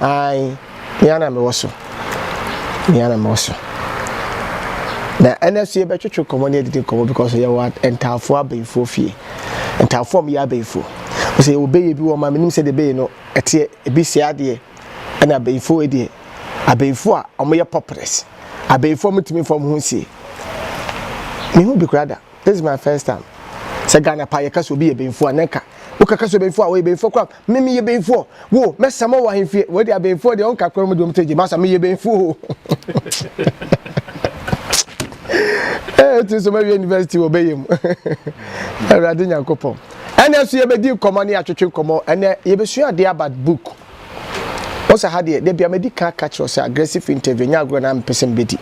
Ae, me ara na mewɔ so. Me ara na mewɔ so. Na ɛnɛ nso yɛbɛtwetwe nkɔmmɔ ne adidi nkɔmmɔ because yɛwɔ ntaafo abɛnfoɔ fie. Ntaafo a wɔyɛ abɛnfoɔ. Sɛ yɛwɔ bɛyɛ bi wɔ ma menim sɛ deɛ bɛyɛ no ɛteɛ ebi sɛ adeɛ ɛna abɛnfoɔ deɛ abɛnfoɔ a wɔyɛ pɔprɛs. Abɛnfoɔ mutumi fam ho nsie. Mehu bi koraa da. This is my first time. Sɛ Ghana pa yɛka sɛ obi yɛ bɛnfoɔ a na nka wokaka sɛ bɛnfoɔ a wɔyɛ bɛnfoɔ koraa Me meyɛ bɛnfoɔ wo mɛsa ma wɔ ahemfie wei deɛ abɛnfoɔ deɛ ɔnka korɔ mu deɛ ɔmsɛ gye masa meyɛ bɛnfoɔ ee ti nso mɛwie university wɔ bɛyɛ mu awurade nyankopɔn ɛnɛ nso yɛbɛdi nkɔmmɔ ne atwetwe nkɔmmɔ ɛnɛ yɛbɛsua adeɛ about book ɔsɛ ha deɛ dabi amadi ka ka kyerɛ sɛ aggressive interview nyɛ agorɔ na mpɛ sɛ mbɛdi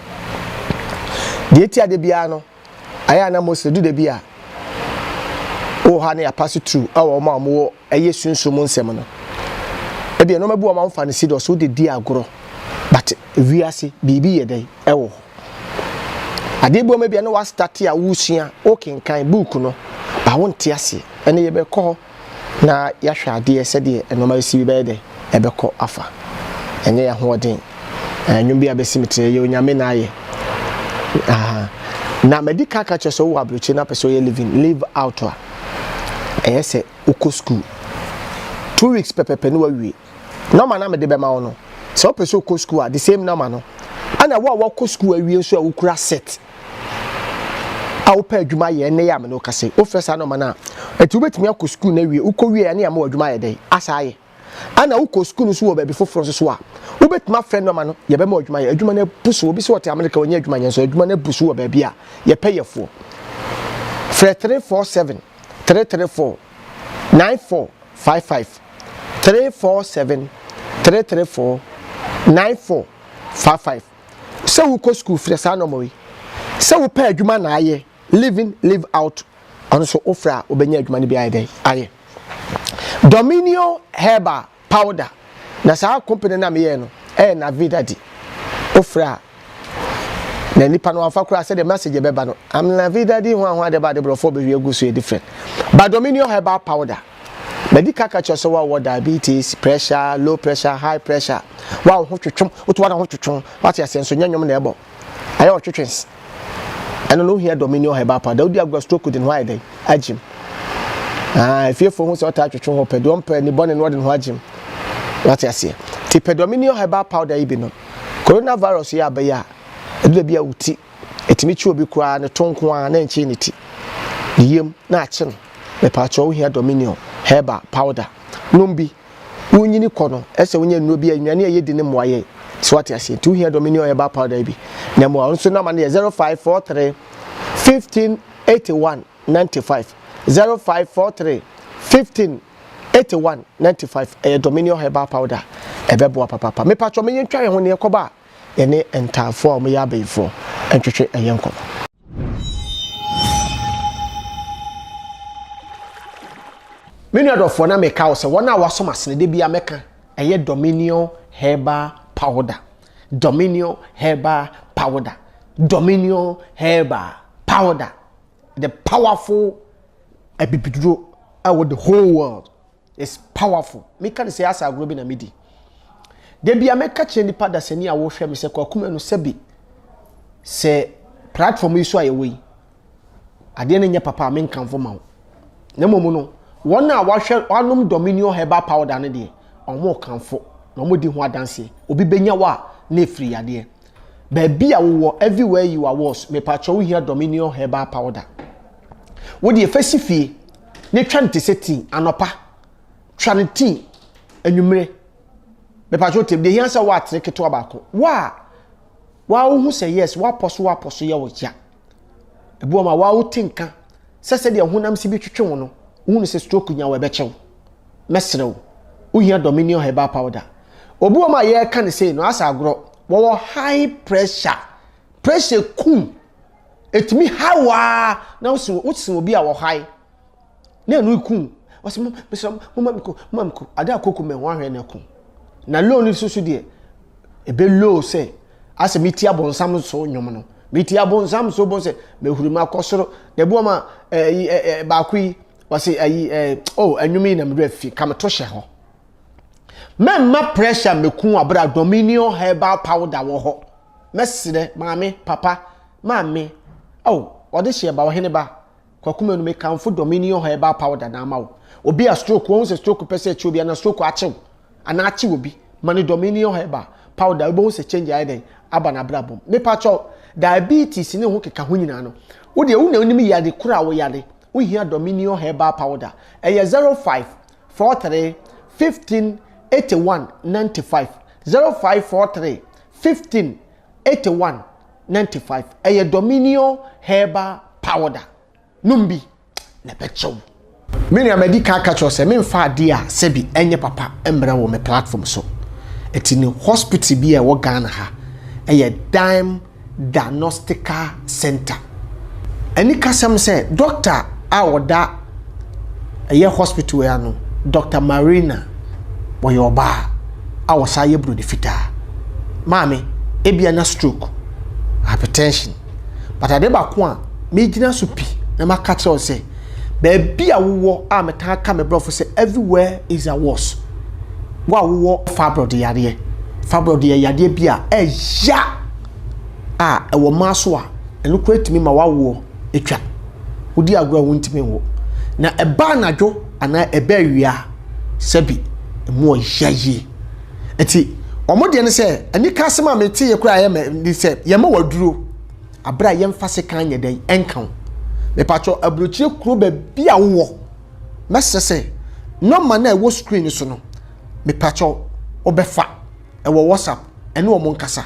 deɛ ti adeɛ biara no ayɛ ana mostly du dabi a wɔ hɔ a ne yɛapase tru ɛwɔ ɔma a wɔwɔ ɛyɛ sunsum mu nsɛm no. Ebia nneɛma bi wɔ hɔ a wɔmfa no serious, wode di agorɔ, but wiase, biribi yɛ dɛn? Ɛwɔ hɔ. Adeɛ bi wɔ hɔ a ebia na woastate a woresua, wokenkan book no, but wonte aseɛ. Ɛnnɛ yɛbɛkɔ hɔ na yɛahwɛ adeɛ sɛdeɛ nneɛma asi bi bɛyɛ dɛn? Ɛbɛkɔ afa. Ɛnyɛ yɛn ahoɔden. Ɛɛ, nnwom bi a bɛsi me tiri, ɛyɛ Onyame na ayɛ. Aha. Na madi kan aka akyerɛ sɛ wowɔ aburokyire na wopɛ sɛ woyɛ living, live out a, ɛyɛ sɛ wokɔ sukuu two weeks pɛpɛpɛ ne wawie nɔma na mede bɛma wo no sɛ wopɛ sɛ wokɔ sukuu a the same nɔma no ɛna wo a wakɔ sukuu awie nso a wokura set a wopɛ adwuma yɛ ɛnɛ yɛ a mene wokase wofrɛ saa nɔma no a ɛti wobɛtumi akɔ sukuu no awie wokɔ wie ɛne ama w'adwuma ayɛ dɛn asa ayɛ Ana wokɔ sukuu nso wɔ baabi foforɔ nso so a, wobɛtumi afrɛ no ama no, yɛbɛma wo adwuma yɛ. Adwuma no abu so. Obi sɛ ɔte Amerika, ɔnyɛ adwuma nyɛ nso adwuma no abu so wɔ baabi a yɛpɛ yɛfoɔ. Frɛ 347 334 9455 347 334 9455 Sɛ wokɔ sukuu, frɛ saa nɔma yi. Sɛ wopɛ adwuma na ayɛ. Live in, live out, ɔno nso wofrɛ a wobɛnya adwuma no bi ayɛ dɛn ayɛ. Dominio herbal powder na saa company no a meyɛɛ no ɛyɛ Navida di. Wofrɛ a na nipa no amfa koraa sɛdeɛ message bɛba no am Navida di ho ahoa de ba de borɔfoɔ bɛhwie agu so yɛ different. Ba Dominio herbal powder madi kaka kyerɛ sɛ wawɔ diabetes, pressure, low pressure, high pressure, wa wo ho twetwom, woto ara ho twetwom, wate aseɛ nso nyɛ nwom na ɛbɔ. Ayɛ wo ɔtwetwes. Ɛno no wohia dominion herbal powder wodi agorɔ stroke de ne ho ayɛ dɛn agyem ah efiefo ho sɛ ɔtaa twetwe ho pɛ deɛ ɔmpɛ ne bɔne no ɔde ne ho agyem wate aseɛ ti pɛ dominion herbal powder yi bi no coronavirus yi abɛyɛ a ɛdu baabi a wo ti ɛtumi kye obi koraa ne to nko ara na ɛnkyee ne ti ne yam na akye no mepaakyɛ wohia dominion herbal powder nom bi Wonyini kɔ no, ɛsɛ sɛ wonya nnuro bi a nnuane a yɛdi no mmoa yɛn. So wate aseɛ? Nti wohia Dominion Herbal Powder yi bi na ɛmmoa wo. Nso nɔma no yɛ 0543 15 81 95, 0543 15 81 95. Ɛyɛ Dominion Herbal Powder a ɛbɛboa papaapa. Mepatwɔ me yɛntwa yɛn ho na yɛnkɔba a. yɛne ntaafoɔ a wɔyɛ abayifoɔ ntwetwe ɛyɛ nkɔmɔ. Me nua dɔfoɔ na meka wo sɛ wɔn a wɔasom asene da biara mɛka ɛyɛ Dominion herbal powder Dominion herbal powder Dominion herbal powder the powerful abibiduro ɛwɔ the whole world It's powerful. Me ka ne sɛ asa agorɔ bi na me di. Da bi a me ka kyerɛ nipa dasani a wɔhwɛ me sɛ kwaku mɛ no sɛ bi sɛ platform yi so a yɛwɔ yi adeɛ no nyɛ papa a me nkanfo ma wo. Na mmom no wɔn a wɔahwɛ wɔanom Dominion herbal powder no deɛ wɔn kanfo na wɔn di ho adanseɛ. Obi bɛnya wɔ a na efiri yadeɛ. Baabi a wowɔ everywhere you are was mepakyɛw wohia dominion herbal powder wodeɛ fa si fie ne twa no te sɛ tea anɔpa twa no tea anwummere mepakyɛw tem deɛ hia sɛ woatere ketewa baako wo a woaho hu sɛ yes woapɔ so woapɔ so yɛ wo ya Ebi wɔ ma waa wote nka sɛ sɛdeɛ honam si bi twetwe wo no, wohunu sɛ stroke nya wo ɛbɛkyɛ wo. Mɛsrɛ wo, wohia Dominion Herbal Powder. Obi wɔ ma yɛreka ne sei no asɛ agorɔ, wɔwɔ high pressure, pressure kum, ɛtumi ha wo ara na wosen obi a wɔ high. na ɛno eku ɔsɛ mo mesrɛ mo moma me ko moma me ko ade a koko mɛ ho ahwɛ na ɛko na low no soso deɛ ebe low sɛ asɛ meti abɔnsam so nnwom no meti abɔnsam so bɔn sɛ mehuri mu akɔ soro na ebi wɔn a ɛyi eh, ɛɛ eh, eh, baako yi wɔsi ɛyi ɛɛ oh nnwom yi na mede afi ka meto hyɛ hɔ mɛmma pressure meku abira dominion herbal powder wɔ hɔ mɛsrɛ maame papa maame oh ɔde hyɛ ba ɔhene ba. Kwaku manu me kanfo dɔ me ni ɔha ɛbaa powder na ama wo obi a stroke wahu sɛ stroke pɛ sɛ ɛkye obi anaa stroke akyew anaa akye obi ma no dɔ me ni ɔha ɛbaa powder wobɛhu sɛ change ayɛ dɛn aba n'abrabɔ mu mepa kyɛw diabetes ne ho keka ho nyinaa no wo deɛ wo na wonim yade koro a wo yade wo hia dɔ me ni ɔha ɛbaa powder ɛyɛ 05 43 15 81 95 05 43 15 eighty one ninety five ɛyɛ dominion herbal powder nom bi na ɛbɛkyɛ wo. Me nua madi kan aka kyerɛ sɛ memfa adeɛ a sɛbi ɛnyɛ papa mmrɛ wɔ me platform so ɛti no hospital bi a ɛwɔ Ghana ha ɛyɛ Daim Diagnostical Center ɛni kasɛm sɛ doctor a ɔda ɛyɛ hospital yi ano, Dɔkta Marina, ɔyɛ ɔbaa a ɔsan yɛ buroni fitaa. Maame, ebia na stroke, hypertension. But ade baako a megyina so pi na maka kyerɛ wo sɛ, baabi a wowɔ a metaa ka me brɔfo sɛ everywhere is a worse. Wo a wowɔ fibroid yadeɛ, fibroid yɛ yadeɛ bi a ɛya a ɛwɔ mmaa so a ɛno koraa tumi ma wawoɔ. atwa wodi agorɔ a wontumi nwo na ɛba anadwo anaa ɛbɛ awia sɛbi ɛmu ɔya yie ɛti wɔn deɛ no sɛ anika asɛm a mete yɛ koraa yɛ mɛ ne sɛ yɛma waduro abere a yɛmfa sekan nyɛ dɛn ɛnka ho mepatwɔ aburokyire kuro baabi a wowɔ mɛsrɛ sɛ nɔma no a ɛwɔ screen so no mepatwɔ wobɛfa ɛwɔ whatsapp ɛne wɔn nkasa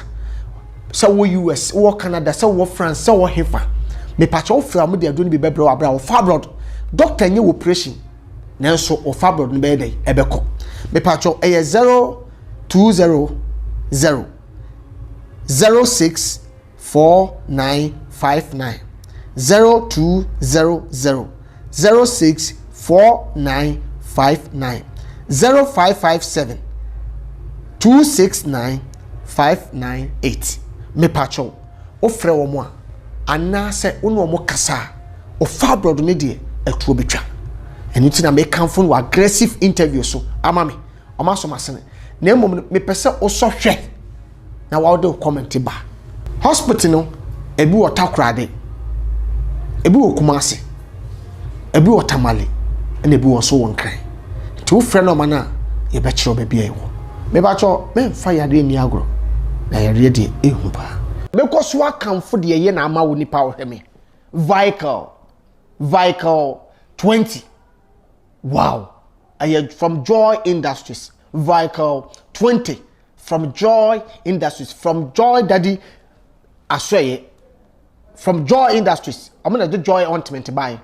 sɛ wɔ us wɔ canada sɛ wɔ france sɛ wɔ hefa mepakyɛ wofrɛ wɔn de aduro no bi bɛbrɛ wɔ abira wɔfa abroad doctor nye operation nanso wɔfa abroad no bɛyɛ dɛ ɛbɛkɔ mepakyɛ ɛyɛ zero two zero zero zero six. four nine five nine zero two zero zero zero six four nine five nine zero five five seven two six nine five nine eight mepatwɛw wofrɛ wɔn a anaasɛ wo ne wɔn kasa a ɔfa aborɔdo ne deɛ ɛtoɔ bɛtwa ɛno nti na mekamfo no aggressive interview so ama me ɔma asɔ m'asene na mmom no mepɛ sɛ wosɔ hwɛ na wɔde wo comment ba hospital no ebi wɔ takorade ebi wɔ kumase ebi wɔ tamale ɛna ebi wɔ nso wɔ nkran nti wofrɛ nɔɔma no a yɛbɛkyerɛ baabi a ɛwɔ mebakyɛ memfa yareɛ nni agorɔ na yareɛ deɛ ehu paa mekɔ so akamfo deɛ ɛyɛ na ama wo nipa ɔhwɛ me vical vical 20 wow ɛyɛ from joy industries vical 20 From Joy Industries, From Joy Daddy Asoɛeɛ, From Joy Industries, wɔn na ɛde Joy Ointment baeɛ.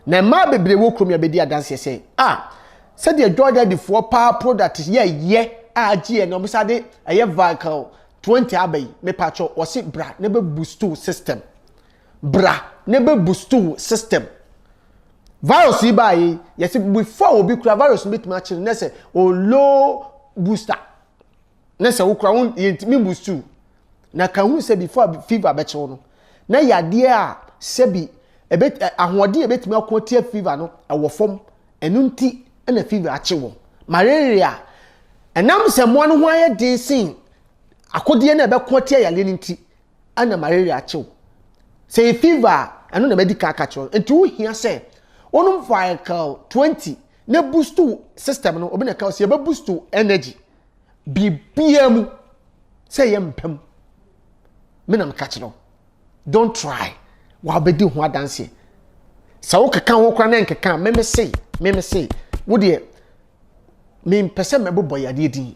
Na mmaa bebree wɔ kurom yi abɛdi adanseɛ sɛ, a sɛdeɛ Joy Daddy foɔ paa product yɛ yɛ a agye yɛ na wɔn sa de ɛyɛ vehicle 20 aba yi, mepatwɔ wɔsi bra na bɛ boost system. Bra na ɛbɛ boost wo system. Virus yi baa yei, yɛse before obi kura virus no bɛtumi akyere na sɛ o low booster. Na sɛ wo kura wo yɛntumi boost wo. Na ka hu sɛ before fever bɛkyew no, na yadeɛ a sɛbi ɛbɛ ahoɔden a ɛbɛtumi ako atia fever no ɛwɔ fam. Ɛno nti na fever akye wɔn. Malaria, ɛnam sɛ mmoa no ho ayɛ den sen akodeɛ no a ɛbɛko atia yareɛ no nti, na malaria akye wo. Sɛ yɛ fever a, ɛno na madi kan aka kyerɛ wo. Nti wohia sɛ wonom Viacal 20 na boost wo system no. Obi na ɛka sɛ yɛbɛ boost wo energy. Biribiara mu sɛ yɛ mpɛ mu. Me na meka kyerɛ wo. Don't try. Wabɛdi ho adanseɛ. Sɛ wokeka ho koraa na nkeka a, meme sei, meme sei. Wo deɛ, mempɛ sɛ mɛbobɔ yadeɛ din.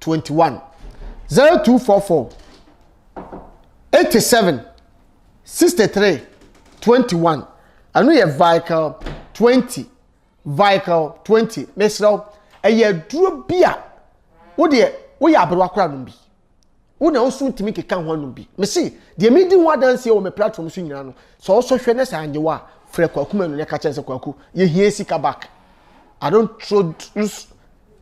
twenty one zero two four four eighty seven sixty three twenty one ɛno yɛ vical twenty vical twenty mesrɛ wo ɛyɛ aduro bi a wo deɛ woyɛ aberewa kora nom bi wo na woso ntumi keka ho anom bi mese deɛ medi ho adanseɛ wɔ me platform so nyinaa no sɛ wosɔ hwɛ ne sɛ anyɛ wo a frɛ kwaku ma no ne ka kyɛn sɛ kwaku yɛhia sika back i don't throw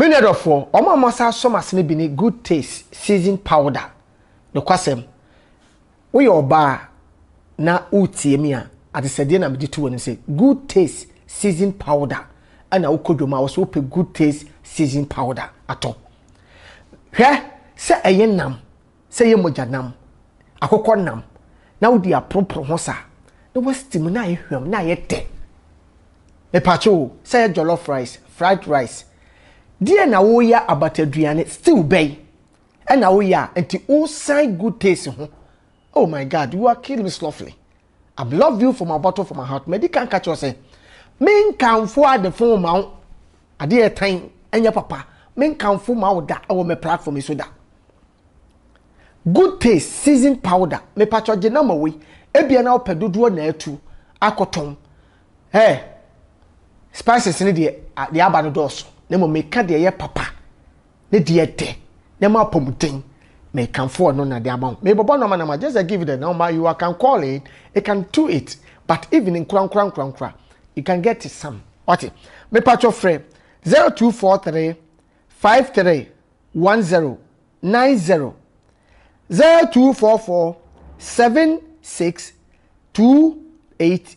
Me nua dɔfoɔ, wɔn a wɔasan asɔ m'ase no bi ne Good Taste Season Powder. Nokwasɛm, woyɛ ɔbaa na woretie me a, adesɛdeɛ na mede to w'anim sɛ Good Taste Season Powder. Ɛna wokɔ dwom a, wɔ sɛ wopɛ Good Taste Season Powder atɔ. Hwɛ sɛ ɛyɛ nam. sɛ yɛ mogya nam, akokɔ nam, na wode aporoporo ho sa na woasteam na ayɛ hwam na ayɛ tɛ. Mepatwo o, sɛ yɛ jollof rice, fried rice, deɛ na woyɛ abataduane, stew bɛn ɛna woyɛ a nti wosan good taste ho. Oh my God, you are killing me softly. I've loved you from a bottle from my heart. Madi kan ka kyerɛ sɛ, menkamfo adefo ma wo. Adeɛ ɛtan ɛnyɛ papa. Menkamfo ma wo da ɛwɔ me platform yi so da. Good taste seasoned powder. Mepatwɔ gye nɔma wei. Ebia na wopɛ dodoɔ na atu akɔtɔn. Hey, spices ne deɛ deɛ aba no dɔɔso. Na mmom meka deɛ ɛyɛ papa. Ne deɛ dɛ, ne mo apɔmuden. Me kanfo ɔno na de ama wo. Me bɔbɔ nɔma nɔma just a give the number you can call it, it can do it but even nkura nkura nkura nkura you can get it some. Wate? Me patcho frɛ 0243 53 10 90 0244 76 28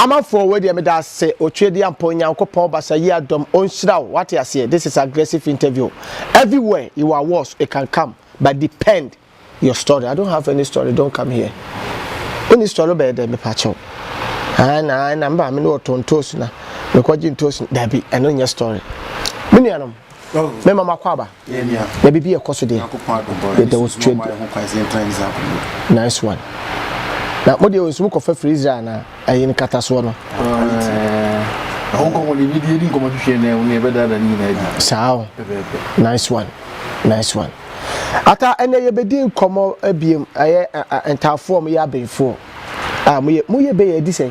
Amanfoɔ wei deɛ meda ase otwedeɛ ampa onyankopɔn basa yi adom onhyira wo wate aseɛ this is aggressive interview everywhere you are was it can come but depend your story I don't have any story don't come here woni story bɛyɛ dɛ mepa kyɛw ɛn na ɛn na mba me ne ɔtɔ ntoosi na mekɔgye ntoosi dabi ɛno nyɛ story me nuanom me mama kɔ aba Na biribi ɛkɔ so deɛ yɛda wo sotwe deɛ nice one na mo deɛ nso mo kɔfa firi Israel na ɛyi no kata soɔ no saa o nice one nice one ata ɛnɛ yɛbɛdi nkɔmmɔ abiem ɛyɛ ntaafoɔ mo yɛ abɛnfoɔ a mo yɛ bɛyɛ adi sɛn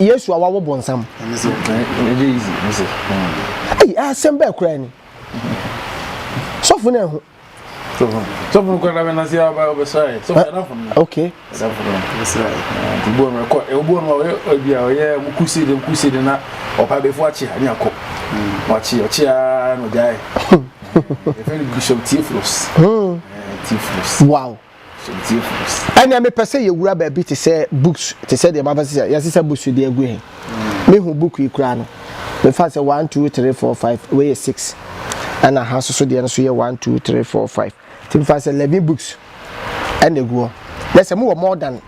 yesu a wawo bonsam ei asɛm bɛɛ koraa ni sɔfo no ɛho sɔfo no kɔda bɛna sɛ wobɛsrae sɔfo okay obuo no ɔyɛ bia ɔyɛ mu crusade mu crusade na ɔpa bɛfo akye a ne akɔ wakye ɔkye a na ɔgyae ɛfɛ no bishop tiefros tiefros wow Ɛnneɛ mepɛ sɛ yɛwura baabi te sɛ books te sɛ deɛ mabɛsɛ sɛ yɛsesa books de agu he mehu book yi koraa no mefa sɛ one two three four five wei yɛ six ɛna ha soso deɛ no so yɛ one two three four five ti mefa sɛ eleven books ɛna egu hɔ na sɛ mo wɔ more than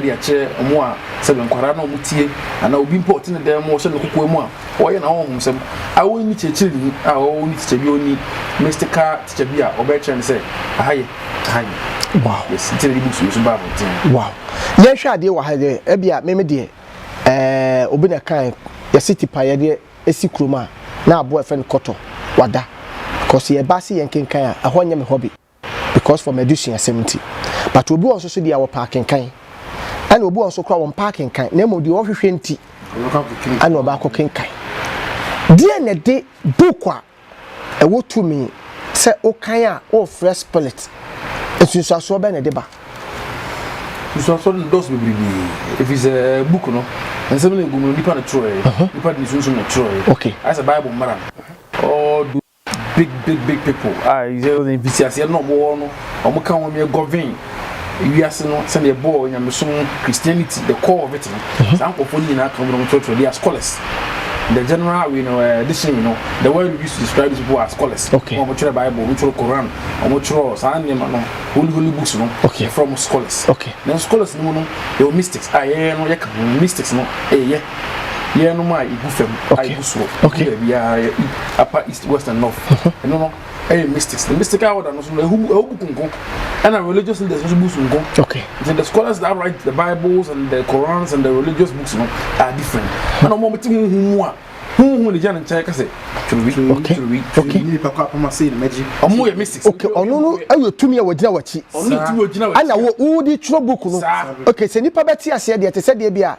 de akyerɛ wɔn a sɛbe nkwadaa no a wɔtie anaa obi mpo a ɔte ne dan mu ɔhyɛ ne kokoa mu a ɔyɛ n'ahonhomsɛm a ɔnni kyerɛkyerɛni a ɔnni tikya bi ɔnni mystical tikya bi a ɔbɛkyerɛ no sɛ aha yɛ aha yɛ wow yes nti na de books nso ba abɔnten wow yɛhwɛ adeɛ wɔ ha deɛ ebi a meme deɛ ɛɛ obi na kan yɛsi tipa yɛ deɛ esi kurom a na aboa ɛfɛ no kɔtɔ wada kɔsi yɛ ba se yɛn kankan a ɛhɔ nyɛ me hɔ bi. because for m'adesuasɛm nti but obi wɔ nso so deɛ wɔpɛ akenkan ɛna obi wɔ nso koraa wɔmpɛ akenkan na mmom deɛ ɔhwehwɛ nti ɛna ɔba akɔ kenkan deɛ na ɛde book a ɛwɔ tumi sɛ wokan a wɔrefrɛ spirit nsunsuasoɔ bɛn na ɛde ba nsunsuasoɔ no dɔɔso bebrebe ɛfiri sɛ eh, book no nsɛm no ɛgu mu no nipa no twerɛɛ nipa de ne sunsum no twerɛɛ ayɛ sɛ bible mmara no Big big big people a ɛyɛ mfitiaseɛ no na wɔwɔ no, wɔka wɔn yɛ govern wiase no sɛdeɛ ɛbɔɔ nyamesom Christianity the core of it no mhm. saa nkurɔfoɔ no nyinaa ka wɔn wɔn kyerɛkyerɛ they are scholars the general we know uh, edition you know the word we use to describe these people are scholars okay wɔn kyerɛ bible wɔn kyerɛ koran wɔn kyerɛ saa nneɛma no holy holy books no okay from scholars okay na scholars no mu no yɛ mystics a yɛyɛ no yɛ ka ho mystics no ɛyɛ yɛnom a ɛgu fam a ɛgu soɔ ɛgu baabiara yɛ upper east west and north ɛno no ɛyɛ mystics the mystical order no so no ɛhu ɛhu buku nko ɛna religious leaders nso buku nko okay nti the scholars that write the bibles and the korans and the religious books no are different ɛna wɔn ti huhu mu a huhu ne gya ne nkyɛn kɛse twerɛwi twerɛwi twerɛwi ne nipa kɔ apama sei na mɛgye wɔn yɛ mystics okay ɔno no ɛyɛ tumi a wɔgyina wɔakyi ɔno ti wɔgyina wɔakyi ɛna wɔn wɔn de twerɛ buku no okay sɛ nipa bɛte aseɛ deɛ te sɛ deɛ bi a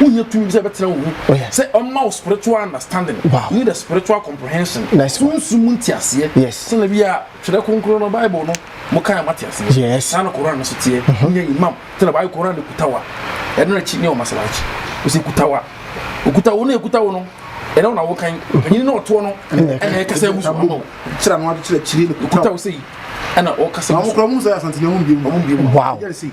wonya tumi bi sɛ bɛtena wo mu oh, sɛ ɔma wo spiritual understanding wow. ne the spiritual comprehension nice sunsu mu nteaseɛ yes. sɛna bi a twerɛ kronkron no bible no mokae ma teaseɛ yes. saa na koran no so teɛ mhm. wonya mm -hmm. imam sɛna bible koran no kuta wa ɛno na akyi ne ɔmasala akyi ɔsɛ kuta wa ɔkuta wo no ɛkuta wo no ɛnɛ wona wokan mhm. panyini na ɔtoɔ no ɛna ɛkasa mu so ama wo kyerɛ no akyerɛ kyiri no kuta wo sɛ yi ɛna ɔkasa mu so ɔmo kura mu sɛ asantene ɔmo mbiem ɔmo mbiem wow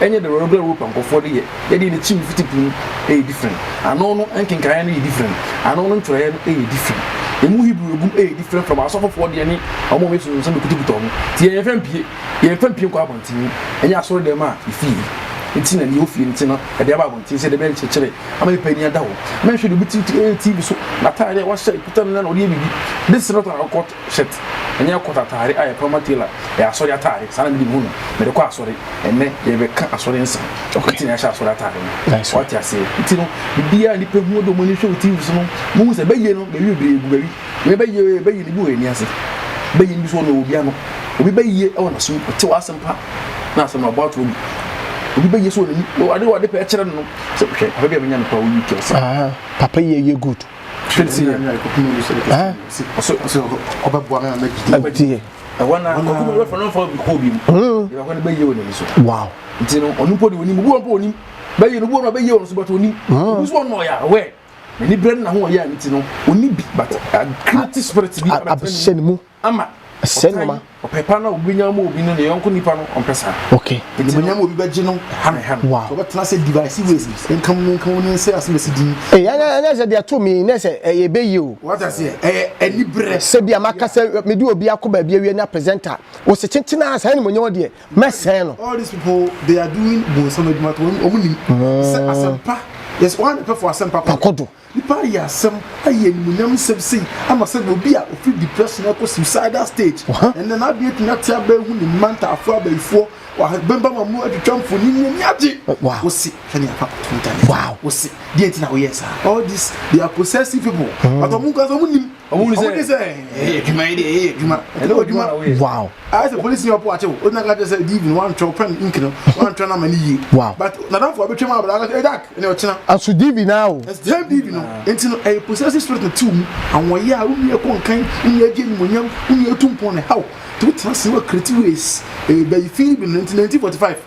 Ɛnyɛ dɛ ɔno do Europa nkorɔfoɔ de yɛ, yɛ deɛ ne tiri no fiti po mu yɛ different, ano no nkenkaeɛ no yɛ different, ano no ntwerɛeɛ no yɛ different, ɛmu Hebrew a ɛgum yɛ different from asɔfofoɔ deɛ ne wɔn a wɔyɛ nsonsonosom no kuta kuta wɔn, nti yɛn yɛnfa mpie, yɛnfa mpie nkɔ abɔnten mu, ɛnyɛ asɔre dɛm a yɛfii mu nti na deɛ ɛwɔ fie no nti no yɛde aba abɔnten sɛ dɛbɛyɛ nkyerɛkyerɛ ama nipa ani ada hɔ, mɛnhwɛ deɛ obi tiri yɛ TV so, n'ataadeɛ a wahyɛ, ekuta no na ɔde yɛ biribi, this is not our culture. Shirt, ɛnyɛ court ataade a yɛpaw ma tailor, ɛyɛ asɔre ataade, saa na mede mehu no, mede kɔ asɔre, ɛnnɛ yɛrebɛka asɔre nsɛm, nti na yɛahyɛ asɔre ataade no, wate aseɛ, nti no biribiara a nnipa hu, wode wɔn ani hwɛ wo TV so no, wohu sɛ bɛyɛ no bɛyɛ bebree agu baabi, wei bɛyɛ ee, bɛyɛ no bi wɔ yɛn ani ase, bɛyɛ no bi nso ɔno ɛwɔ bi ano, obi bɛyɛ wɔ n'asom, ɔte w'asɛm pa na asɛm no ɔbɔ ato agu, obi bɛyɛ sɛ wɔ n'ani, ade wɔ ade pɛ ɛkyerɛ no no, sɛ hwɛ papa bi a menya no koraa wɔ UK ɔse. Papa yi ɛyɛ good. Hwɛ tie. Ɛhɛn. Tie. Ɛhɔ na ɔkɔkɔ bɛ fɔ n'afɔ bi kɔ bi mu. Ɛhɔ na bɛ yie wɔ n'ani so. Wow. Nti no ɔno mpo de onim obi wɔn mpo onim bɛ yie no obi wɔn bɛ yie wɔn so bɛtɔ onim. Obi so ɔnɔ ya wɛ. N'ani brɛ no na ho ɔyɛ a nti no oni bi but a creative spirit bi. Abɛhyɛ ne mu. ama saa nneɛma. Ɔpɛ pa no a obi nya ama obi no ne yɔnko nipa no ɔmpɛ saa. Okay. Animonyam obi bɛgye no ha ne ha no. Wow. So ɔbɛtena sɛ divisive ways nka mu nka mu ne nsɛ ase mesi din. Ee ɛnyɛ ɛnyɛ sɛ deɛ to mi ne sɛ ɛyɛ ebe yi o. Wata se ɛyɛ ɛni brɛ. Sɛ bi a maka sɛ me de obi akɔ baabi awie na presenter wɔ sɛ kyenkyen a saa animonyam deɛ mɛsɛn no. All these people they are doing bonsam adwuma to wɔn wɔn nim sɛ asɛmpa yɛ sɛ wɔn anipɛ fo asɛmpa kɔ do. Nnipa reyɛ asɛm, ayi animuonyam nsɛm sei ama sɛdeɛ obi a ɔfiri depression rekɔ suicidal stage, ɛnnɛ n'adwene atumi ate aba ahu ne mma ntaafoɔ abayifoɔ wɔ ahabambam a wɔatwitwa mfonin ne ani agye. Wose hwɛ nea papa Kunta yɛ. Wose deɛ nti na woyɛɛ saa? All these they are possessive people but wɔn nko ara nso wɔnnim. ɔmo ti sɛ ɛyɛ adwuma yi de ɛyɛ adwuma ɛna adwuma wow ayɛ sɛ polisi yɛ ɔpo akye wo ɔgyina ka kyerɛ sɛ diivi no wantwerɛ wo pɛn ink no wantwerɛ no ama no yie wow but nadamfo a bɛtwa mu abra ɛ dak ɛne ɔkyena aso diivi no awo ɛsɛ diivi no nti no ɛyɛ possessive spirit no tiw mu awɔyɛ a wonni ɛkɔ nkan wonni agye animonyam wonni ɛtu mpɔn ne haw nti wotena se wakiriti ways ɛbɛyi fii bi no nti 1945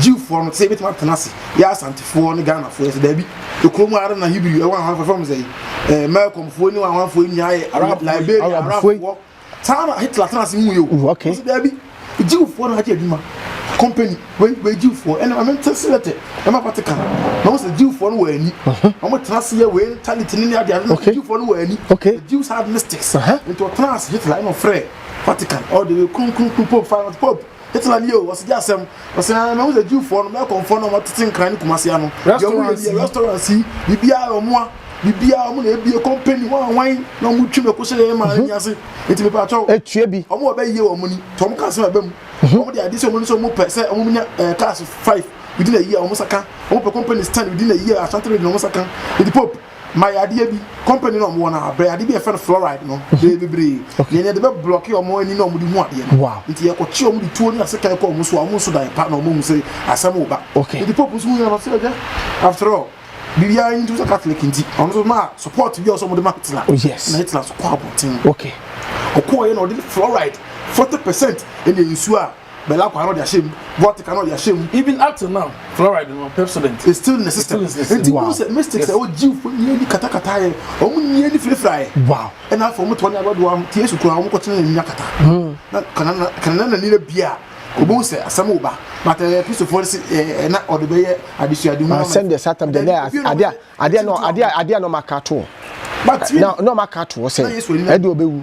Jewfoɔ no te sɛ yɛbɛtumi atena ase yɛ Asantefoɔ ne Ghanafoɔ yɛ sɛ daabi. Ekuro mu ara na Hebrew ɛwɔ ahoahoa fam sɛ ɛɛ Mɛlkɔmfoɔ ne wɔn ahoafoɔ nyinaa yɛ Arab Liberia Arabfoɔ saa na Hitler tena ase mu yɛ o. Wɔsi mm, daabi Jewfoɔ na agye adwuma company wei wei Jewfoɔ ɛna maame nte se yɛtɛ ɛma Vatican na wɔn sɛ Jewfoɔ no wɔ ani wɔn tena ase yɛ wei mentality ne ne ade ade na Jewfoɔ no wɔ ani Jews had mystics nti wɔtena ase Hitler ɛna ɔfrɛ Vatican ɔde kronkron pope final pope Hitler nie o, ɔsi gye asɛm. Ɔsi ɛn mɛhu sɛ Jewfoɔ no, mɛkɔnfoɔ no a wɔtete nkran ne kumasi ano. Restaurants yi. Restaurants yi, biribiara wɔn a, biribiara wɔn na ebie, company, wɔn a wɔn na wɔn twi mɛko hyɛ yɛn maa yɛn ase. Nti mepɛ akyɛw. Etua bi. Wɔn a wɔbɛyie wɔn ni, nti wɔn ka asɛm ɛbɛ mu. Wɔn de adi sɛ wɔn ni sɛ wɔn pɛ sɛ wɔn nya ɛɛ cars five within a year wɔn nsa ka. Wɔn pɛ companies ten within a year, Ashanti region wɔn nsa ka. Nti Pope. ma yɛ adeɛ bi company na wɔn wɔ na brɛ adeɛ bi yɛfɛ no fluoride no bɛyɛ mhm. bebree nea yɛde bɛ blɔke wɔn ani na wɔn de hu adeɛ no nti yɛkɔ kye wɔn de tuo ne asekan kɔ wɔn so a wɔn nso dan pa na wɔn hu sɛ asɛm wɔ ba nti pope nso hu yɛn ɔsɛ ɛdɛ after all biribiara nti sɛ catholic nti ɔno nso maa support bi a ɔsɛ wɔn de ma hitler oh, na hitler so kɔ abɔnten ɔkɔɔ yɛ na ɔde fluoride forty percent ɛna nsuo a Bella Kwa no de ahyɛ mu, Vortica no de ahyɛ mu. Even up till now, fluoride no, Pepsodent. It's still in the system. It's still in the system. Wow. Nti mystic yes. sɛ o jiw fo nyɛ ni katakata yɛ, ɔmo nyɛ ni firifira yɛ. Wow. Ɛna afɔ ɔmo tɔ ne abadoa ɔmo ti esu kura ɔmo kɔ kyerɛ nyɛ kata. Hmm. Na kanana kanana na ni na bia. Obo sɛ asɛm wo ba but ɛɛ kristofo ɛsɛ ɛɛ na ɔde bɛyɛ adesuade ho. Asɛm deɛ satan deɛ na adeɛ adeɛ na adeɛ adeɛ na ɔmo aka to. But na na ɔmo aka to sɛ ɛde ɔbɛwu.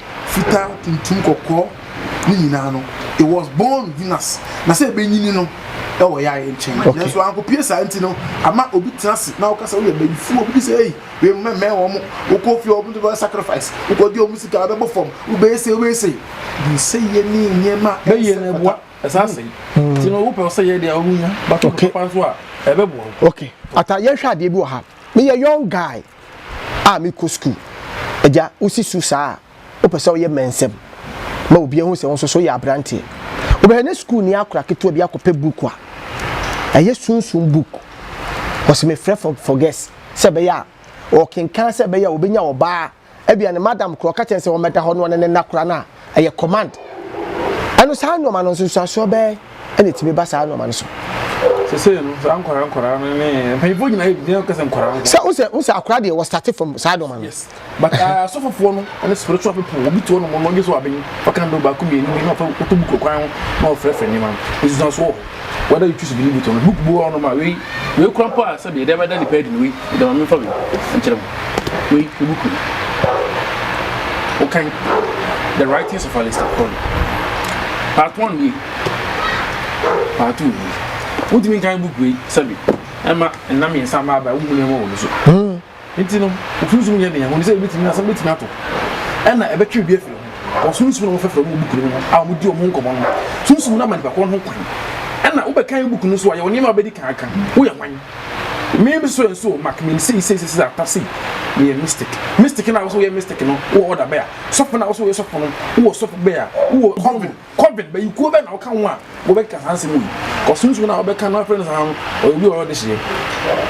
fitaa, tuntum, kɔkɔɔ, ne nyinaa no, it was born Venus, na sɛ ebenyini no ɛwɔ yɛ ayɛ nkyɛn, okay. nanso ankopie saa nti no ama obi tena ase na ɔka sɛ woyɛ bayifuo, obi bi sɛ ei wei mmɛ mmɛn wɔn mo, wokɔ fie wɔn de wɔn sacrifice, wokɔ di wɔn sika abɛbɔ fam, wobɛyɛ sei wobɛyɛ sei, nsɛ yɛ ne nneɛma ɛyɛ na ɛboa ɛsan sɛ hmm. ti no wopɛ sɛ yɛ deɛ wonya bato no papa nso a ɛbɛboa wo. okay ata yɛnhwɛ adeɛ bi wɔ ha meyɛ young guy a mekɔ sukuu. Agya, wosi su saa a, wopɛ sɛ woyɛ mmɛnsɛm ma obi ahu sɛ wo nso so woyɛ aberanteɛ. Wobɛhwɛ na sukuuni akora ketewa bi akɔpɛ book a ɛyɛ sunsum book. Wɔsi mefrɛ for for guest sɛ ɛbɛyɛ a ɔkenkan sɛ ɛbɛyɛ a obenya ɔbaa. Ebia ne madam kora ɔka kyerɛ no sɛ ɔmmɛda hɔ na ɔne no nna kora no a, ɛyɛ command ɛno saa nneɛma no nsunsuasoɔ bɛɛ ɛna ɛtumi ba saa nneɛma no so sese no saa nkwaraa nkwaraa no ne mpanyinfoɔ nyinaa yɛ bi nyinaa kasa nkwaraa ho sɛ wosɛ wosɛ akwaraa deɛ wɔ start from saa nneɛma no yes but ah, asɔfofoɔ no ɛne spiritual people obi tuo no mo no ɔgye so abenyi ɔka ndo baako mmienu bi na ɔfa ɔtɔ bu kɔ kwan ho na ɔfrɛfrɛ nneɛma no nsunsuasoɔ wɔ hɔ whether you choose to believe it or not book bu ɔno ma wei wei kura mpo a sɛbi ɛdɛm ɛda nipa adi no wei ɛdɛm ame nfa wei nkyerɛ mu wei ne book no wokan the writings of Alistair Crowley part one nie part two nie wotumi nkan book wei sɛbi ɛma nna mmiɛnsa ma aba womu nneɛma wɔ no so. Hmm. Enti no, wo sunsum nyɛ den a, wɔnim sɛ ebetumi, asɛm betumi ato, ɛnna ɛbɛtwe obi afi ne ho. Wɔ sunsum na wɔfrɛfrɛ wɔn wɔ buku no mu no a wɔdi wɔn ho nkɔmmɔ no, sunsum no ama nipa korɔ no ho kwan. Ɛnna wobɛkan buku no nso a, yɛwɔ nneɛma a wobedi kan aka. Woyɛ hwan? Mmea bi so yɛ nso o, Mark, mim sei, sei, sei, sei, ata sei. Meyɛ mystic. Mystic no a wosɛ woyɛ mystic no, wowɔ order bɛ a? Sɔfo no a wosɛ woyɛ sɔfo no, wowɔ sɔfo bɛ a? Wowɔ coven. Kɔben, bɛyi kuo bɛn na woka ho a wobɛkeka saa nsɛm wei? Ɔsonsono a wobɛka no afrɛ no saa no, ɔyɛ obi a ɔyɛ ɔdehyeɛ.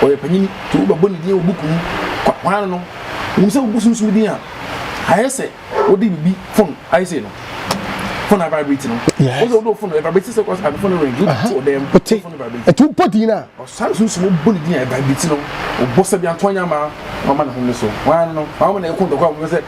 Ɔyɛ panyini, nti wobɛbɔ ne din wɔ buku mu. Kwa, hwan ne no? Wonim sɛ wobu sunsum din a, ayɛ sɛ wode biribi fon ayɛ sei no, fon a vibrate no. Wohu sɛ wode wo fon no, ɛvibrate sɛ kɔsɛ ade fon no ring, wode to ɔdan mu, wo fon no vibrate. Ɛti wobɔ din a. Ɔsane sunsum a wobɔ ne din a ɛvibrate no, wobɔ sɛ bi a, nto ɔnyɛ ama, wama ne ho nne so. Hwan ne no? Hwan mo na ɛko ntɔkwa a wɔbɛpɛ sɛ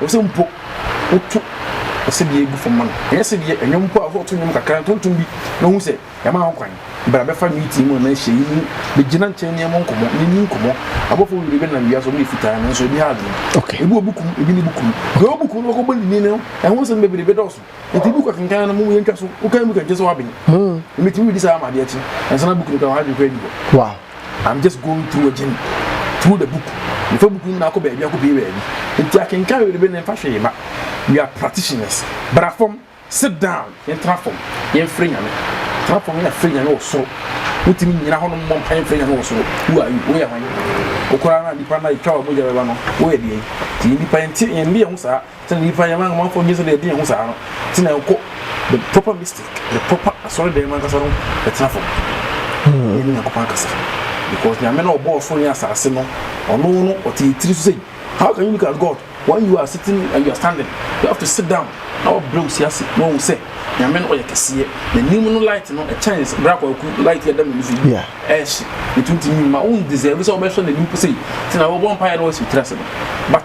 Ɛwɔ sɛ mpo woto ɔsebea gu fam ma no. Ɛnyɛ sɛdeɛ nnwom mpo a woto nnwom kakra ntontom bi na wohu sɛ yɛama ho kwan. Bra bɛfa meeting mu anaa nhyiayi mu bɛgyina nkyɛn ne yɛmmɔ nkɔmmɔ na yɛnni nkɔmmɔ. Abɔfoɔ bebree bɛnam wiase a wɔyɛ fitaa nanso ebi ha adwene. Ebi wɔ buku mu, ebi nni buku mu. Deɛ ɔwɔ buku mu no bɛkɔbɔ nnini no, ɛho nsɛm bebree bɛdɔɔso. Enti buku akenkan no mmom yɛntwa so. Wokan buku a ɛnkyerɛ sɛ woaben. Wobɛtumi redi saa ama adeɛ kye. Ansa na buku no koraa w'adwene koraa adi hɔ. I'm just going through agyin through the book mefa buku nyinaa kɔ baabi akɔ pii baabi nti akenkan wei bɛ ne mfa hwee ba we are practitioners bra fam sit down yɛntena fam yɛmfiri nyame tena fam yɛna firi nyame wɔ soro wotumi nyina hɔnom mmɔ mpa yɛmfiri nyame wɔ soro who are you woyɛ hwan wokoraa na nipa na ɛtwa wɔ mogya bɛba no woyɛ deɛ nti nipa yɛnte yɛnde yɛn ho saa Sɛ nnipa yɛ ma amanfoɔ dwen sɛdeɛ ɛdene ho saa no nti na ɛkɔ the proper mystic, the proper asɔredɛm ankasa no bɛtena fam na ɛne Nyankopɔn akasa because Nyame no ɔbɔɔ soro ne asase no ɔno no ɔte yɛ tiri so sei how can you look at God when you are sitting and you are standing you have to sit down na wabrɛ wo si ase na wahu sɛ Nyame no ɔyɛ kɛseɛ n'anim no light no ɛkyɛn berɛ akwaku light yɛ da m'ani so yi ɛhye ɛtuntumi ma wo deserve sɛ wobɛhwɛ n'anim po sei nti na wɔbɔ mpaeɛ na wasi wo tiri ase no but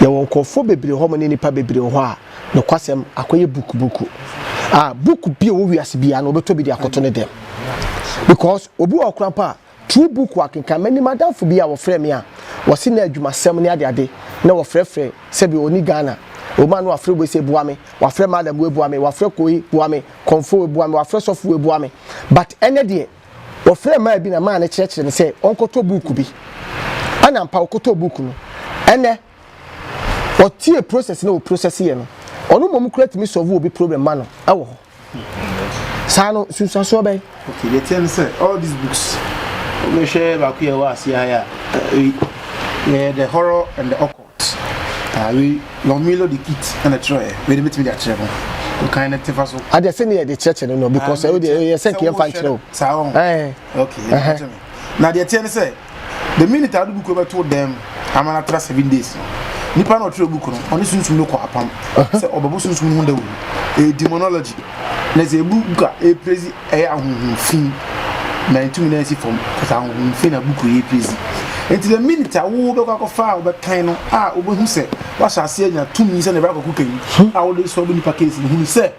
Yɛwɔ nkorɔfoɔ bebree hɔ mo ne nnipa bebree wɔ hɔ a nokwasɛm akɔyɛ book book a book bi a ɛwɔ wiase biara no wɔbɛtɔ bi de akɔto ne dɛm because obi wɔ hɔ koraa mpo a true book wakenkan menim adamfo bi a wɔfrɛɛ me a wɔse na adwumasɛm ne ade ade na wɔfrɛfrɛ sɛbi ɔni Ghana obi a na wafrɛ wei sɛ boa me wafrɛ madam wei boa me wafrɛ koi boa me kɔmfoɔ wei boa me wafrɛ sɔfo wei boa me but ɛnɛ deɛ Wɔfrɛɛ mmaa bi na mmaa no kyerɛkyerɛɛ no sɛ ɔnkɔtɔ buuku bi. Ɛna ampa ɔkɔtɔɔ buuku no. Ɛnnɛ, ɔtie process no a wɔprocess yɛ no. Ɔno mmom koraa tumi solve obi problem ma no wɔ hɔ. Saa no, nsunsuansoɔ bɛn? Okay, the thing is, all these books, we share baako yɛ wɔ ase ayɛ a, eh, eh, the horror and the occult. Ah wei Lomilo de kit ɛna kyerɛɛ wei de metumi de akyerɛ mo kan ne tefa so. Adeɛ sɛ ne yɛ de kyerɛkyerɛ no no because ɛyɛ deɛ yɛ sɛ nkeɛ mfa nkyerɛ o. Saa wɔn. Ɛɛ. Okay. Ɛhɛ. Na deɛ teɛ ne sɛ the minute a ɔde buku bɛ to dɛm ama na tra seven days no nipa na ɔtwerɛ buku no ɔne sunsun no kɔ apam sɛ ɔbɛbɔ sunsun no ho dawuro ɛyɛ demonology na sɛ ebu buka ɛyɛ praise ɛyɛ ahonhom fi na ntumi na nsi fam kasa ahonhom fi na buku yi pezi nti the minute a wo bɛkɔ akɔfa a wobɛkan no a wobɛhu sɛ wahyɛ ase anya tumi sɛ na ɛbɛkɔ akɔku kan hmm. a wode sɔ bo nipa case no hunu sɛ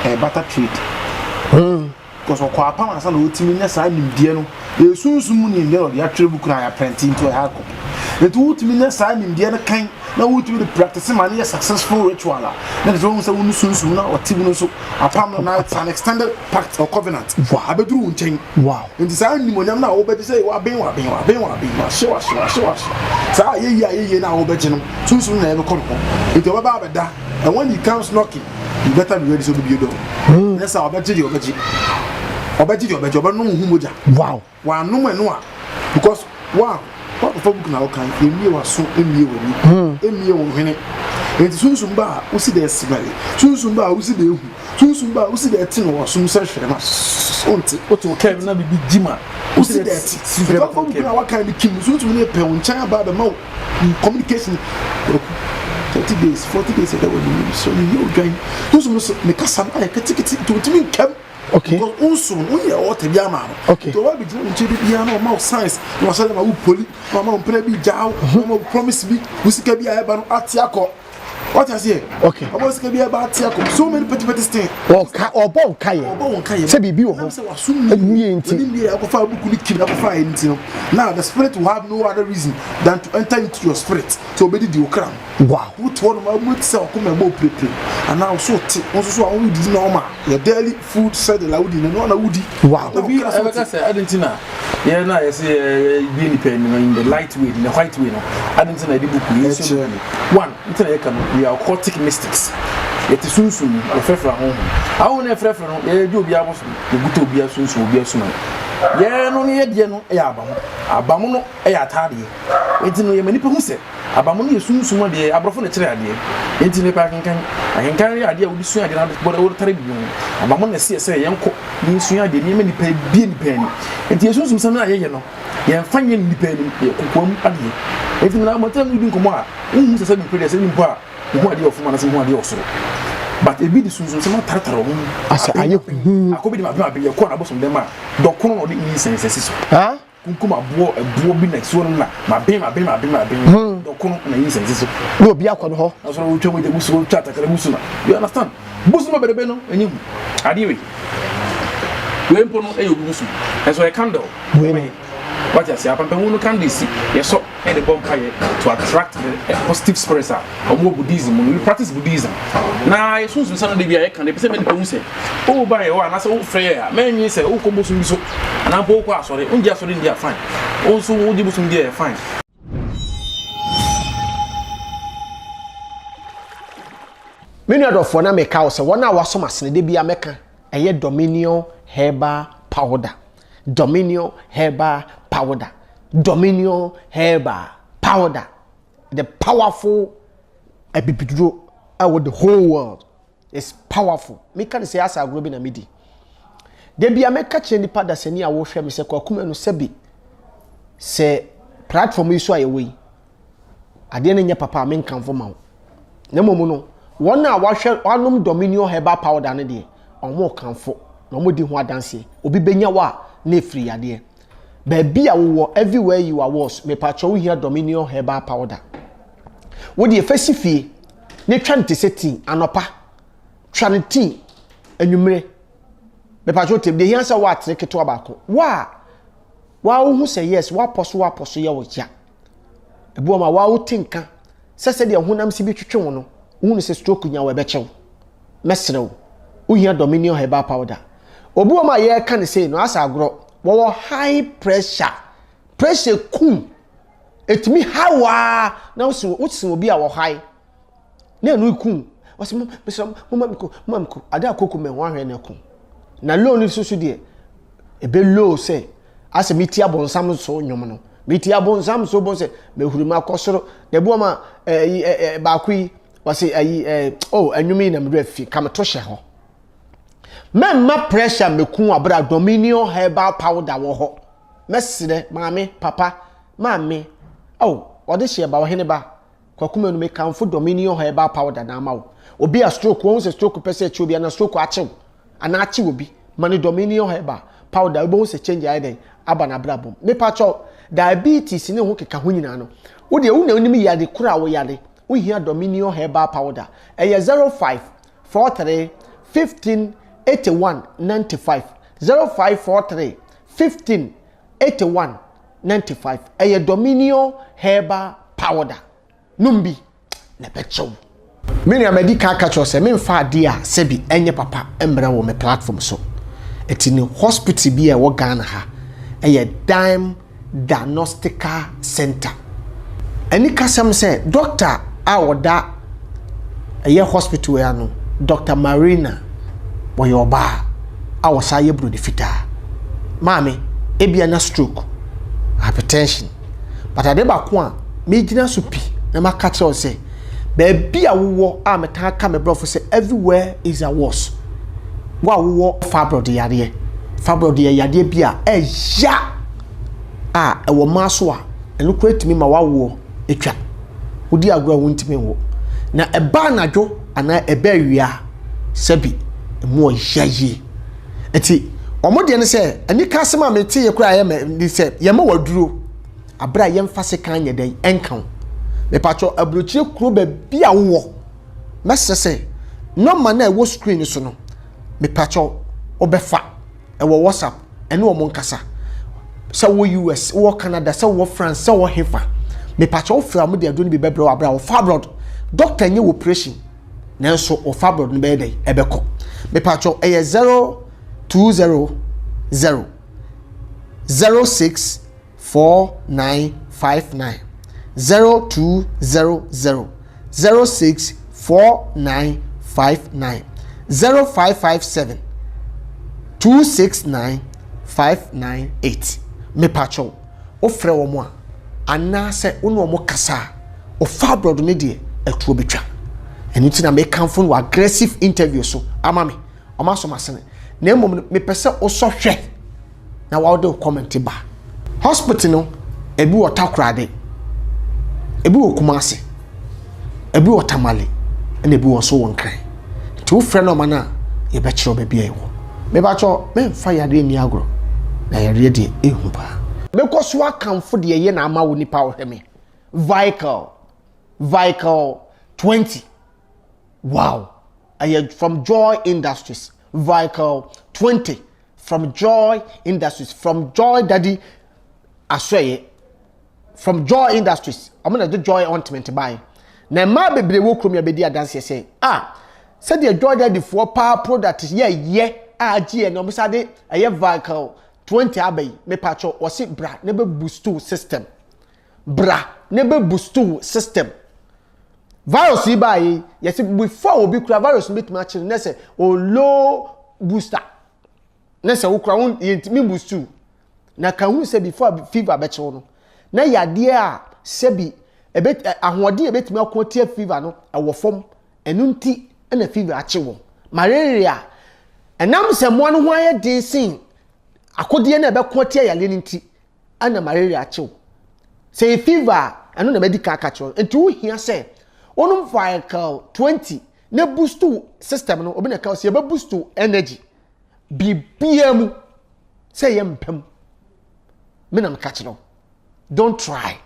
ɛbata eh, trade hmm. because ɔkɔ apam ansa na ɔtumi nya saa nimdeɛ no ɛsunsum mu nimdeɛ na ɔde atwerɛ buku no a yɛaprɛnte nti ɔyɛ hard copy nti wotumi nya saa nimdeɛ no kan na wotumi de practice ma ne yɛ successful ritual a na kyerɛ sɛ wɔn sɛ wɔn sunsun na ɔte mu no so apam no na it's an extended pact or covenant abɛduru wɔn nkyɛn nti saa nimonyam na wɔbɛgye sɛ waben waben waben waben wahye wahye wahye wahye saa ayɛyie ayɛyie na wɔbɛgye no sunsun na ɛbɛkɔ no hɔ nti ɔbɛba abɛda and when he comes knocking you better be ready sɛ ɔbɛbie dɔm ne sɛ ɔbɛgye deɛ ɔbɛgye ɔbɛgye deɛ ɔbɛgye ɔbɛnom ho mogya wow W'anom ɛno a because wa wakɔfa book na wokan ɛmmie w'aso ɛmmie w'ani ɛmmie wo hwene nti sunsum ba a wosi dɛ ɛsebɛre sunsum ba a wosi dɛ ehu sunsum ba a wosi dɛ ɛte no wɔsom sɛ hwere ma wonte wote wo kɛm na biribi gyi ma wosi dɛ ɛte wokɔfa book na wakan no kim sunsum no pɛ wo nkyɛn aba abɛma wo communication waku 30 days 40 days ɛdɛ wɔ ne mu so ne yɛ odwan sunsum no so ne kasa no ayɛ ketekete nti wotumi nkɛm Okay. Because unso no unyɛ ɔwɔ tɛbi ama no. Okay. Tɛ wabi gyina nkyɛn bi biara na ɔma wo science na wahyɛ dɛ ma wo poli na ɔma wo mpere bi gya wo na ɔma wo promise bi wo sika bi a ɛba no ate akɔ. What I say? Okay. Ɔma wo sika bi ɛba ate akɔ. So many petty petty things. Ɔka ɔbɔ nka yɛ. Ɔbɔ nka yɛ. Sɛ biribi wɔ hɔ. Sɛ waso mu. Ɛnwie nti. Ɛni wie akɔfa abuku ni kiri akɔfa ayɛ nti no. Now the spirit will have no other reason than to enter into your spirit. So obedi di okra mu. Wow, wote hɔ nom a mu te sɛ ɔkoma ɛbɔ pirepire anaa wo so te wo nso so a wo didi na ɔma yɛ daily food schedule a wodi na ɛno na wodi. Wow. Obi ɛbɛka sɛ adi nti na yɛ na yɛsɛ yɛbie nipa anim in the light way in the white way no adi nti na yɛde buku yi nso no mu one nti na yɛka no we are occultic mystics yɛte sunsun mu yɛfrɛfrɛ ahohom ahohom na yɛfrɛfrɛ no yɛyɛ gye obi aboso yɛguta obi asunsun obi asuma yɛn no ne yɛdeɛ no yɛ abamu abamu no yɛ ataadeɛ nti no yɛma nipa hu sɛ Abamono yɛ sunsum adeɛ, aborɔfo na ɛkyerɛ adeɛ, enti mepɛ akenkan. Akenkan yɛ adeɛ a wode sua adeɛ na wode bɔ wode tare biribi ho. Abamono na ɛseɛ sɛ yɛnkɔ na yɛnsua adeɛ, nneɛma a nnipa abue nnipa ani. Enti yɛn sunsumsɛm no a yɛyɛ no, yɛmfa nyɛ nnipa anim, ɛyɛ kokoam adeɛ. Enti menam abɔnten a meredi nkɔmmɔ a, wonhu sɛ sɛdeɛ mepɛ deɛ sɛ mpo a, mehu adeɛ wɔ fam anaasɛ mehu adeɛ wɔ soro. But ebi de sunsumsɛm atartare wɔn mu, apem apem, akɔ bi de ma apem apem, yɛkɔ n'abosomdam a, dɔkono na ɔde nyinsɛn sɛ si so. Kunkum aboɔ ɛboɔ bi na ɛsuo no na maben maben maben maben hmm. dɔkono na yi nsɛnsi so na obi akɔ no hɔ na sɔrɔ wotwa wogya gu so wotwa atakara gu so na you understand busu ma berebe no ɛnyɛ hu adeɛ wei wei mpo no ɛyɛ obi busu ɛnso ɛyɛ candle wei wate ase apampamu no candle si yɛsɔ de bɔ mpaeɛ to attract the positive spirits a wɔn wɔ Buddhism mu no. We practice Buddhism. Na yɛ sunsun sɛ no de bi a yɛ kan de pese mɛ nipa hu sɛ o oh, ba yɛ hɔ anasɛ o oh, fɛ yɛ a mɛ nwi sɛ o oh, kɔ bosom bi so anaa mpo o kɔ asɔre o ngye asɔre ndi a fine o nso o gye bosom di a yɛ fine. Me nua dɔfoɔ na meka wo sɛ wɔn a wɔasom asene de bi a mɛka ɛyɛ Dominion herbal powder. Dominion herbal powder. Dominion herbal powder. The powerful abibiduro ɛwɔ the whole world. It's powerful. Meka ne sɛ asa agorɔ bi na medi. Da bi a mɛka kyerɛ nipa dasani a wɔhwɛ me sɛ kwakumɛ no sɛbi sɛ platform yi so a yɛwɔ yi Adeɛ no nyɛ papa a menkamfo ma wo. Na mmom no, wɔn a wɔahwɛ wɔanom Dominion herbal powder no deɛ, wɔkamfo na wɔdi ho adanseɛ. Obi bɛnya wo a, na ɛfiri yadeɛ. Baabi a wowɔ, everywhere you are was, mepakyɛ wohia Dominion herbal powder. Wo deɛ fa si fie na twa no te sɛ tii anɔpa. Twa no tii anwummere. Mepakyɛ wotem deɛ hia sɛ woatere ketewa baako. Wo a, woahu sɛ yes, woapɔ so woapɔ so yɛ wo ya. Ebi wɔ ma waa wote nka sɛ sɛdeɛ honam si bi twetwe wo no, wohunu sɛ stroke nya wo ɛbɛkyɛ wo. Mɛsrɛ wo, wohia Dominion Herbal Powder. Obi wɔ ma yɛreka ne sei no, asɛ agorɔ. Wɔwɔ high pressure. Pressure kum. Ɛtumi ha wo ara na wosen obi a wɔ high. na ɛno eku ɔsɛ mo mesrɛ mo moma me ko moma me ko ade a koko mɛ ho ahwɛ na ɛko na low no soso deɛ ebe low sɛ asɛ meti abɔnsam so nnwom no meti abɔnsam so bɔ sɛ mehuri mu akɔ soro na ebi wɔn a ɛyi eh, ɛɛ eh, eh, baako yi wɔsi ɛyi ɛɛ oh nnwom yi na mede afi ka meto hyɛ hɔ mɛmma pressure meku abira dominion herbal powder wɔ hɔ mɛsrɛ maame papa maame oh ɔde hyɛ ba ɔhene ba. Kwaku manu me kanfo dɔ me ni ɔha ɛbaa powder na ama wo obi a stroke wɔhu sɛ stroke pɛ sɛ ɛkye obi anaa stroke akyew anaa akye obi ma no dɔ me ni ɔha ɛbaa powder wobɛhu sɛ change ayɛ dɛn aba na abrabɔ mu mepa kyɛw diabetes ne ho keka ho nyinaa no wo deɛ wo na wonim yade koro a wo yade wo hia dɔ me ni ɔha ɛbaa powder ɛyɛ 05 43 15 81 95 05 43 15 eighty one ninety five ɛyɛ dominion herbal powder nom bi na ɛbɛkyɛ wo. Me nua madi kan aka kyerɛ sɛ memfa adeɛ a sɛbi ɛnyɛ papa mmrɛ wɔ me platform so ɛti no hospital bi a ɛwɔ Ghana ha ɛyɛ Dime Diagnostical Center anikasɛm sɛ dɔkta a ɔda ɛyɛ hospital yi ano, Dɔkta Marina, ɔyɛ ɔbaa a ɔsan yɛ buroni fitaa. Maame, ebia na stroke, hypertension. But ade baako a megyina so pi na maka kyerɛ wo sɛ, baabi a wowɔ a metaa ka me brɔfo sɛ everywhere is a worse. Wo a wowɔ fibroid yareɛ, fibroid yɛ yadeɛ bi a ɛya a ɛwɔ mmaa so a ɛno koraa tumi ma w'awoɔ atwa. Wodi agorɔ a wontumi nwo. Na ɛba anadwo anaa ɛba awia a, sɛbi ɛmu ɔya yie. Ɛti wɔn deɛ ne sɛ, anika asɛm a mete yɛ koraa yɛ mɛ ne sɛ, yɛma waduro. Abere a yɛmfa sekan nyɛ dɛn ɛnka wo. Mepatwɔ aburokyire kuro baabi a wowɔ. Mɛsrɛ sɛ, nɔma no a ɛwɔ screen no so no, mepatwɔ wobɛfa ɛwɔ whatsapp ɛne wɔn nkasa sɛ wɔ us wɔ canada sɛ wɔ france sɛ wɔ hefa mepatwa wofiri a wɔde aduro no bi bɛbrɛ wɔ abira wɔfa abroad doctor nyɛ operation nanso wɔfa abroad no bɛyɛ dɛ ɛbɛkɔ mepatwa ɛyɛ zero two zero zero zero six. four nine five nine zero two zero zero zero six four nine five nine zero five five seven two six nine five nine eight mepatwɛw wofrɛ wɔn a anaasɛ wo ne wɔn kasa a ɔfa aborɔdo ne deɛ ɛtoɔ bɛtwa ɛno nti na mekamfo no wɔ aggressive interview so ama me ɔma asɔm asene na mmom no mepɛ sɛ wosɔ hwɛ na wɔde wo kɔmɛnte ba hospital no ebi wɔ takorade ebi wɔ kumase ebi wɔ tamale ɛna ebi wɔ nso wɔ nkran nti wofrɛ nɔɔma no a yɛbɛkyerɛ baabi a ɛwɔ mebakyɛ memfa yareɛ nni agorɔ na yareɛ deɛ ehu paa mekɔ so akamfo deɛ ɛyɛ na ama wo nipa ɔhwɛ me vical vical 20 wow ɛyɛ from joy industries vical 20 From Joy Industries, From Joy Daddy Asoɛeɛ, From Joy Industries, wɔn na ɛde Joy Ointment bae. Na mmaa bebree wɔ kurom yi abɛdi adanseɛ sɛ, a sɛdeɛ Joy Daddy foɔ paa product yɛ yɛ a agye yɛ na wɔn sa de ɛyɛ vehicle 20 aba yi, mepatwɔ wɔsi bra na bɛ boost system. Bra ne bɛ bustu wo system. Virus yi baa yei, yɛse before obi kura virus no bɛtumi akye no ne sɛ o low booster. Ne sɛ wo kura wo yɛntumi bustu. Na ka hu sɛ before fever bɛkye wo no, na yadeɛ a sɛbi ebe, ahoɔden a ɛbɛtumi ako atia fever no ɛwɔ fam. Ɛno nti na fever akye wɔn. Malaria, ɛnam sɛ mmoa no ho ayɛ den sen akodeɛ no a ɛbɛko atia yareɛ no nti, na malaria akye wo. Sɛ yɛ fever a, ɛno na madi kan aka kyerɛ nti wohia sɛ wonom viacal 20 na boost wo system no obi na ɛka sɛ yɛbɛ boost wo energy biribiara mu sɛ yɛ mpam me na meka kyerɛ wo don't try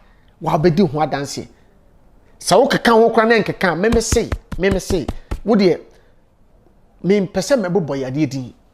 wabɛdi ho adanseɛ sɛ wokeka ho kora na nkeka meme sei meme sei wodeɛ mempɛ sɛ mɛbobɔ yadeɛ din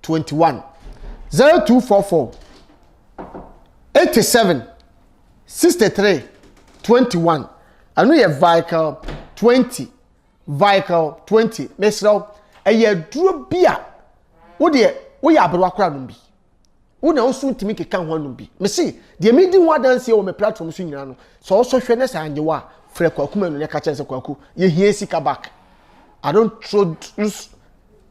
twenty one zero two four four eighty seven sixty three twenty one ɛno yɛ vical twenty vical twenty mesrɛ wo ɛyɛ aduro bi a wo deɛ woyɛ aberewa kora nom bi wo na woso ntumi keka ho anom bi mese deɛ medi ho adanseɛ wɔ me platform so nyinaa no sɛ wosɔ hwɛ ne sɛ anyɛ wo a frɛ kwaku ma no ne ka kyɛn sɛ kwaku yɛhia sika back i don't throw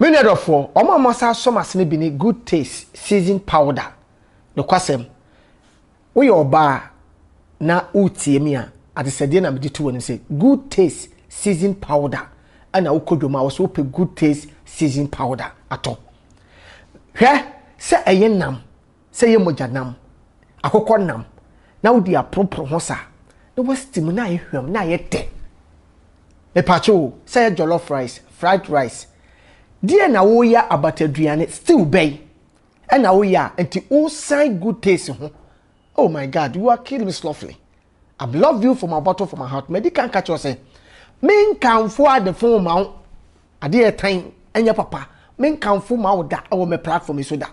Me nua dɔfoɔ, wɔn a wɔasan asɔ m'ase no bi ne Good Taste Season Powder. Nokwasɛm, woyɛ ɔbaa na woretie me a, adesɛdeɛ na mede to w'anim sɛ Good Taste Season Powder. Ɛna wokɔ dwom a, wɔ sɛ wopɛ Good Taste Season Powder atɔ. Hwɛ sɛ ɛyɛ nam sɛ yɛ mogya nam, akokɔ nam, na wode aporoporo ho sa na wasti mu na ayɛ hwam na ayɛ tɛ. Mepakye o, sɛ yɛ jollof rice, fried rice, deɛ na woyɛ abataduane, stew bɛn ɛna woyɛ a nti wosan good taste ho. Oh my God, you are killing me softly. I've loved you from a bottle from my heart. Madi kan ka kyerɛ sɛ, menkamfo adefo ma wo. Adeɛ ɛtan ɛnyɛ papa. Menkamfo ma wo da ɛwɔ me platform yi so da.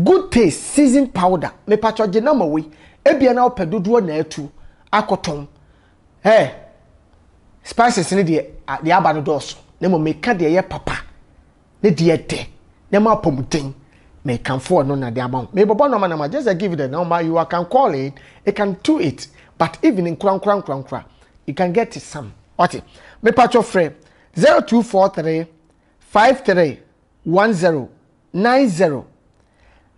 Good taste seasoned powder. Mepatwɔ gye nɔma wei. Ebia na wopɛ dodoɔ na atu akɔtɔn. Hey, spices ne deɛ deɛ aba no dɔɔso. Na mmom meka deɛ ɛyɛ papa. ne deɛ ɛdɛ na ɛma apɔmuden mekamfo ɔno na de ama ho mebɔbɔ nɔma nɔma just I give the number you are can call in you can do it but even nkorankora nkorankora you can get it some wate mepatwɔ frɛ 0243 53 10 90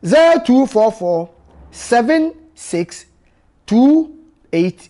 0244 76 28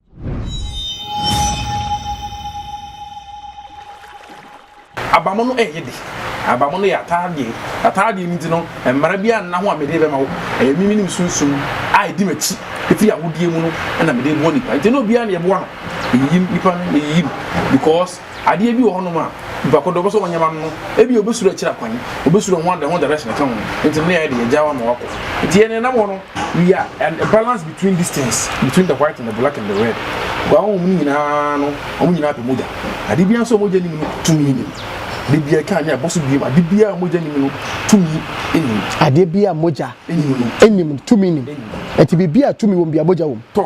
Abamono ɛyɛ de abamono yɛ ataadeɛ ataadeɛ no nti no mmara bi anna ho a mede bɛma wo ɛyɛ mimi ne sunsum a ɛdi m'akyi ɛfiri ahodeɛ mu no ɛna mede boa nipa nti na obiara na yɛboa no yɛyiyim nipa no yɛyiyim because Adeɛ bi wɔ hɔnom a nnipa kɔ do wɔpɛ sɛ wɔnyɛ ma no no, ebia obesuro akyiri akwan, obesuro ho ade ho direction ɛka ho, nti ne yɛayɛ de yɛagyaa wo ama woakɔ. Nti yɛn nenam hɔ no we are an a balance between these things, between the white and the black and the red, bua honhom no nyinaa no wɔn nyinaa pɛ mogya, ade biara nso a mogya nim no tumi nnim, da biara ɛka anwea ɛbɔ so biom, ade biara a mogya nim no tumi nnim. Adeɛ biara a mogya nnim no tumi nnim, ɛnti biribiara a tumi wɔ mu biara mogya wɔ mu. Tɔ,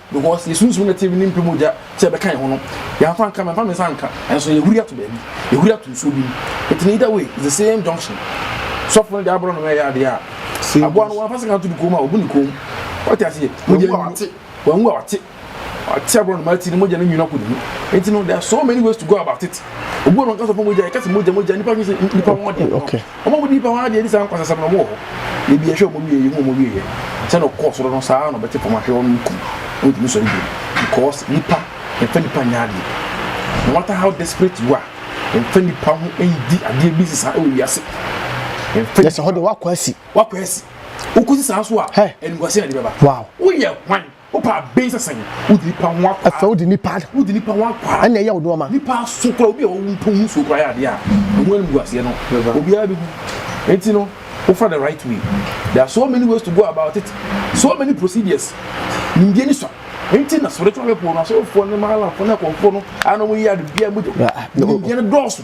Because yɛsunsum no te ne mpa mu gya sɛ ɛbɛka yɛn ho no, yɛamfa anka, mamfa me nsa anka, nanso yɛhuri ato baabi, yɛhuri ato nsuo bi mu. Nti no either way, it's the same junction. Sɔfo no de aborɔnoma ɛyɛ adeɛ a, aboa no wamfa sekan anto ne kɔn mu a, ɔbu ne kɔn mu. Wate aseɛ? Wanwu a wate. Wanwu a wate. Wate aborɔnoma ti no mogya no nwunu akɔ ne mu. Nti no, there are so many ways to go about it. Obu a ɔnka sɔfo mogya, yɛka sɛ mogya, mogya, nnipa dwene sɛ nnipa ho adeɛ. Wɔn a wɔdi nnipa ho adeɛ ne saa nkwasasɛm no, wɔwɔ hɔ. Da bi yɛhwɛ wɔn wie a, yɛhu wɔn awieeɛ. Sɛdeɛ ɔkɔɔ soro no, saa ara na ɔbɛte fam ahwɛ wɔn no kum. Wɔntumi nsɔre bio. Because nnipa, yɛmfa nnipa nyɛ adeɛ. No matter how desperate you are, yɛmfa nnipa ho ndi adeɛ bi nsesa wɔ wiase. Yɛmfa nnipa. Yɛsɛ hɔ deɛ, woakɔ asi. Woakɔ asi. Wokɔsi saa nso a, animguaseɛ na ɛde bɛba. Wow. Woyɛ hwan? Wopɛ aben sɛ sɛn? Wodi nipa ho akwa. Ɛfɛ wodi nipa. Wodi nipa ho akwa. Ɛna ɛyɛ wo nneɛma. Nipa so kora obi a ɔwo mpo mu so kora yɛ adeɛ a ɔmo ani gu aseɛ no obiara bɛgu. Eti no wofa the right way. There are so many ways to go about it. So many procedures. Nimdeɛ ni sua. Enti na spiritual people no asɔrefoɔ ne malamfoɔ ne akɔmfoɔ no a na ɔmo yɛ ade biara mu de nimdeɛ no dɔɔso.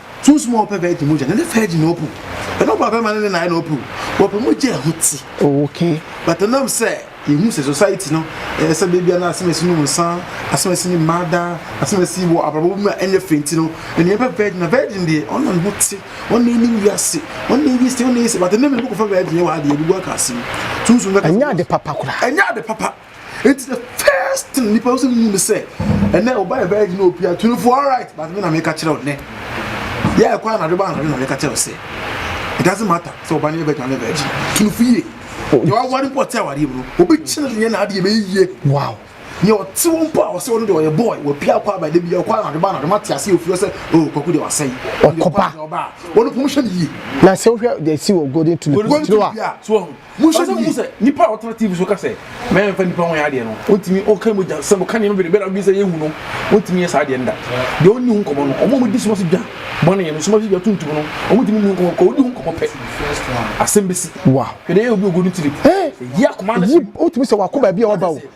Too small pɛ bɛɛ di mogya na ne fɛ di na ɔpu. Ɛna ɔba bɛma ne ne nae na ɔpu. Wɔpɛ mogya ɛho ti. Okay. But ɛnam sɛ yɛhu sɛ society no ɛyɛ sɛ bɛbia na asɛmasi nom nsa, asɛmasi ne mmaa daa, asɛmasi wɔ abrabɔ bi mu a ɛnyɛ fɛ nti no, ɛnea ɛbɛ virgin na virgin deɛ ɔna ne ho te, ɔna ɛni wiase, ɔna ɛyi sɛ, ɔna ɛyi sɛ, but ɛnɛ mene bɛkɔfa virgin yɛ wɔ adeɛ, ɛbubu aka asɛm. Sunsum bɛka sɛ. Ɛnyɛ ade papa koraa. Ɛnyɛ ade papa. It's the first thing nipa no sɛ mu ne sɛ ɛnɛ ɔba yɛ bɛyɛ gyina opia tuni fo alright but me na meka kyerɛ wo nɛ yɛ ɛkɔ anadwo ba anadwo na meka kyerɛ wo sɛ it doesn't matter sɛ ɔba no yɛ bɛyɛ gyina ne bɛyɛ gyina tuni fo yie yɛ wawari mpo ɔte awareɛ mu no obi kyerɛ ne yɛ na adeɛ bɛyɛ yie wow yɛ ɔte wo mpo a ɔsɛ ɔno deɛ ɔyɛ boy wɔpia akɔ abɛde bi ɔkɔ anadwo ba anadwo mate ase ofie sɛ o oh, kwaku deɛ wasɛe ɔkɔba ɔno pom hyɛ ne yie na sɛ wohwɛ deɛ si wɔ golden tulip tiri a Monhwɛ sɛ mohu sɛ nipa a ɔtena TV so ka sɛ mɛyɛ mfa nipa ho nyɛ adeɛ no, ɔntumi ɔka mogya sɛ ɔka nneɛma bebree bɛrɛ a wodwen sɛ yɛhu no, ɔntumi nyɛ saa adeɛ no da. Deɛ ɔnni ho nkɔmmɔ no, wɔn a wɔdi soma so dwa bɔne yɛ no, soma so dwa tuntum no, wɔntumi nni ho nkɔmmɔ because ɔdi ho nkɔmmɔ pɛ, asɛm bɛsi. Wow. Hwɛ deɛ ɛyɛ obi a ɔgu ne tirim. Ɛyi akoma no hye. Ɛyi, wotumi sɛ wako baabi a ɔba o.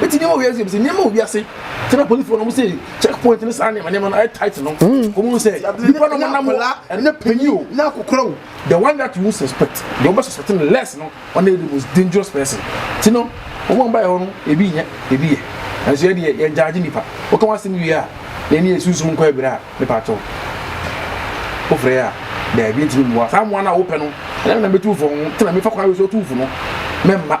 Mete nneɛma wɔ wiase mu sɛ nneɛma wɔ wiase sɛ na polisifoɔ no wɔn sɛ check point ne saa nneɛma nneɛma no ayɛ tight no mm. wɔn mu sɛ nipa no nam wɔ ɛnɛ panyin o na akokora o the one that you suspect the one suspect no less no ɔna yɛ the most dangerous person ti no wɔn a wɔn ba yɛ hɔ no ebi nyɛ ebi yɛ nanso yɛ deɛ yɛn gyaagye nipa wɔka wɔn asɛm wie a yɛn ni yɛ sunsun nkɔ abira a ne pa atɔ wofrɛ yɛ a dɛbi ntumi mmoa saa mmoa no a wopɛ no ɛna na mɛtu fo ho tena mefa kwan wɔ so tu fo no mɛmma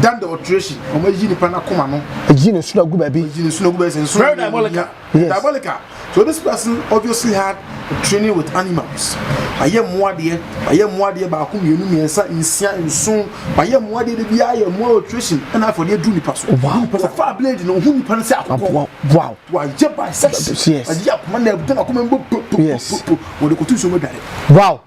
Dan the alteration, wɔn ayi nipa n'akoma no. Ayi ne nsono agu baabi. Ayi ne nsono agu baabi. Nsono very diabolical. Yes. Diabolical. So this person obviously had training with animals. Ayɛ mmoadeɛ, ayɛ mmoadeɛ baako mmienu mmiɛnsa nsia nson, ayɛ mmoadeɛ de bi ayɛ mmoa alteration ɛna afɔ de adu nipa so. Wow. Pɛsɛ fa blade na ohun nipa no sɛ akokɔ. Wow. Wow. Wayɛ bisection. Yes. Ayɛ akoma na ɛbɛn akoma mbɔ po po po po. Wɔde kotu nsuo mu adware. Wow.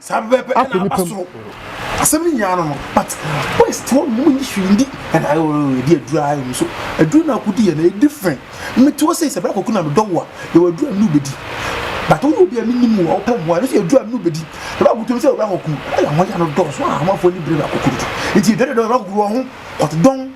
saa bɛbɛ ɛna aba soro asɛm no nyinaa no no but west hɔ nom nyi hwee ndi ɛna ɛdi aduru ara mu so aduru no akodi yɛ na ɛyɛ different mmeti hɔ sei sɛ bra kɔku na medɔ wo a yɛwɔ aduru a mene wobɛdi but woyɛ obi a menim wo a wopɛ mmoa ɛno so yɛ aduru a mene wobɛdi ɛba akotom sɛ bra kɔku ɛyɛ ho ya no dɔɔso a amanfoɔ ni bere bra kɔku dodo nti ɛdɔdɔdɔ bra kɔku wɔ ho kɔtodɔn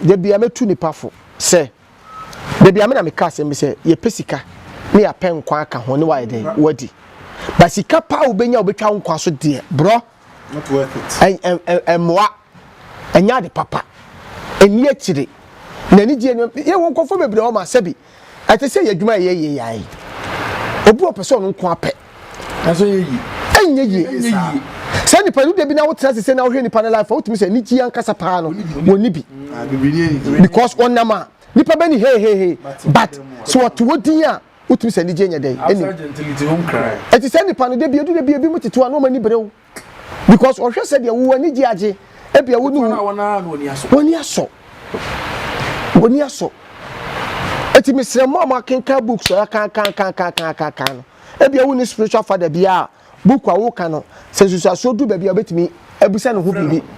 Da bia mɛtu nipa fo sɛ, da bia me na meka asɛm bi sɛ, yɛpɛ sika ne yɛapɛ nkwa aka ho ne wayɛ dɛn? Wadi. But sika paa wobɛnya wobɛtwa wo nkwa so deɛ, brɔ, ɛmmoa, ɛnyɛ ade papa, ɛnni akyire, na anigyeɛ nneɛma, yɛwɔ nkurɔfoɔ bebree hɔ ma sɛbi, Ɛte sɛ yɛn adwuma a yɛyɛ yi ara yi. Obi a ɔpɛ sɛ ɔno nko ara pɛ. Nanso ɛnyɛ yie. Ɛnyɛ yie. Ɛnyɛ yie. Saa nipa no da bi na wotena ase sɛ na wohwɛ nipa no life a wotumi sɛ anigye ankasa paa no wɔnni bi. Because ɔnam a nipa bɛni hey hey hey but sɛ wɔto hɔ din a wotumi sɛ anigye nyɛ dɛn ɛnim. Ɛte sɛ nipa no da bi edu da bi ebinom tete hɔ a na wɔn ani bere wo. because ɔhwɛ sɛ deɛ wo ani gye agye ebia wo ne wo wɔni asɔ wɔni asɔ eti mesrɛ mu a mo akenkan books ɔyɛ kankankankankankan no ebia wo ne spiritual father bi a book a woka no sɛ nsusuasoɔ du baabi a obetumi abisa ne ho biribi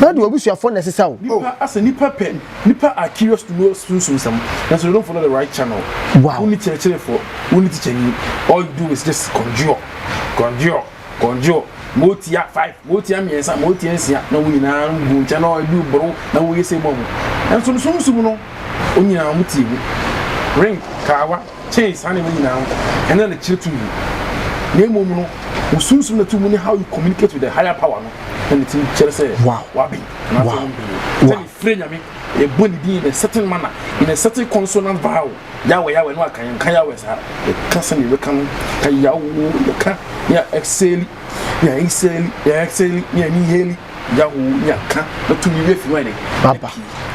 Ná ɔde w'abusuafo na ɛsesa wo. Nipa asɛ nipa pɛ nipa are curious to know sunsum nsɛm nanso they don't follow the right channel. Wow. Wonni kyerɛkyerɛfoɔ, wonni tikyani, all you do is just kɔndwoɔ, kɔndwoɔ, kɔndwoɔ, ma ɔtia five, ma ɔtia mmiɛnsa, ma ɔtia nsia na wɔn nyinaa gu nkyɛn na wɔde boro na wɔyɛ sɛ mu a mu. Nanso no sunsum no, wɔn nyinaa wɔn tie mu. Ring, Kawa. kyɛn saa nneɛma nyinaa no, ɛno yɛ ne kyerɛ tumi, na mmom no, wo sunsum na tumi ne how you communicate with the higher power no na ne tumi kyerɛ sɛ waben anaasɛ wow. womben no. Sɛ ne frɛ Nyame, ɛbɔ ne din in a certain manner, in a certain consonant vowel, Yahweh, Yahweh, no aka yɛnka Yahweh saa, yɛka sɛdeɛ yɛbɛka no, ka Yahweh, yɛka, yɛ exhale, yɛ exhale, yɛ exhale, yɛ inhale, yaw nya ka na tumi wi afi wɔn aba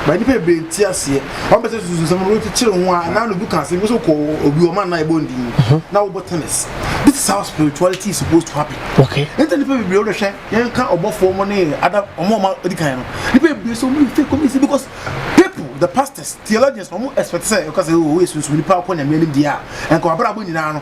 ba nipa bebree nti aseɛ wɔn bɛsɛ susu nsɛm no kyekyere ho a na no bi ka ase nso kɔ obi wɔn anan ɛbɔ ndi mhm. na wɔbɔ tennis this is how spirituality is supposed to happen okay nti nipa bebree wɔn hwɛ yɛn ka ɔbɔfoɔ wɔn ne ada wɔn a wɔn adi kan no nipa bebree so wɔn fake wɔn si because people the pastors theologians wɔn expect sɛ ɛkɔ sɛ wɔyɛ sunsun nipa akɔ nyamea ne deɛ a nkɔwabra abɔ nyinaa no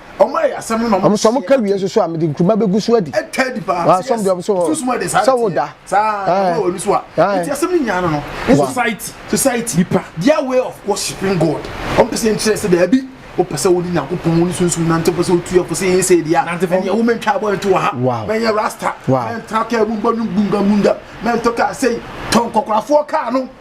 ɔmo sɛ ɔmo ka wie nso so a mede nkuruma bɛgu so adi asɔm deɛ ɔmo so hɔ sɛ wo da society nipa their way of worshiping God ɔmo pɛ sɛ nkyerɛ sɛ daabi wopɛ sɛ wode nyankopɔn wo ne sunsum nante wopɛ sɛ wotu afo sɛ yɛn sɛ ɛdi a ɛneɛ wo mentwa abɔ nto wɔ ha mɛnyɛ rasta mɛntra kaa mu mbɔ no mbungamunga mɛntɔ kaa sɛi tɔ nkɔkorafoɔ kaa no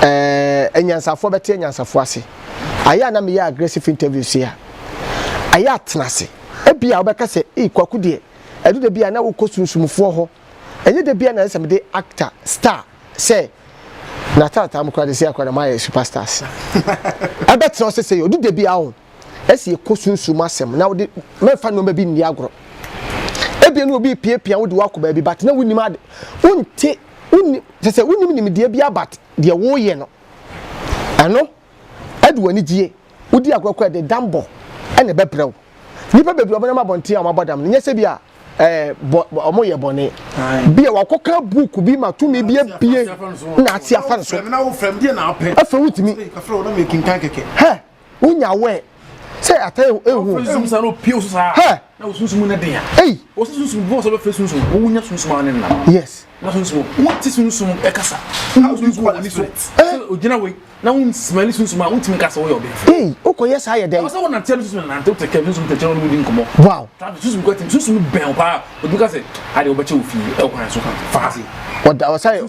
ɛɛ anyansafoɔ bɛte anyansafoɔ ase ayɛ a na meyɛ aggressive interview se a ayɛ a tena ase ebi a wobɛka sɛ ee kwaku deɛ ɛdu da bi a na wokɔ sunsumfoɔ hɔ ɛnyɛ da bi a na ɛsɛ mede actor star sɛ na taataa mu koraa de sɛ akora na mayɛ superstars ɛbɛtena ɔsɛ sɛ ɔdu da bi a wo Ɛsɛ yɛkɔ sunsum asɛm na wode mɛmfa nneɛma bi nni agorɔ. Ebia ne obi repiapia wode wakɔ baabi but na wonim ade wonte wonim sɛ sɛ wonim nimdeɛ bi abat deɛ woyɛ no ɛno ɛde w'ani gyie wodi agorɔ kɔ ɛde dambɔ ɛna ɛbɛbrɛ wo nnipa bebree wɔn nam abɔnten a wɔn abɔ dam no nyɛ sɛ bi a ɛɛ bɔ wɔn yɛ bɔne bi a wakɔka buuku bi ma tumi bi abie na ate afa nso afɛ wotumi hɛ wonya wɛ sɛ ata ehu. wɔfiri sunsum saa na opie so saa na osunsum ne den a eyi wɔsi sunsum bɔn sɛ bɛfiri sunsum wɔn nya sunsum ano nna yes na sunsum wɔn ti sunsum ɛkasa na sunsum wɔn ni so sɛ ogyina wei na wɔn simali sunsum a wɔn ti mi kasa wɔyɛ ɔbɛn fi eyi o kɔ yɛ saa yɛ dɛ ɔsɛ wɔn nante no sunsum nante o tɛ kɛ sunsum tɛ kyɛn wɔn di nkɔmɔ wow tabi sunsum kɔ ti sunsum bɛn o paa o dun ka sɛ adi o bɛ kyɛ o fi ɛ o kwan so kan faase ɔda ɔsɛ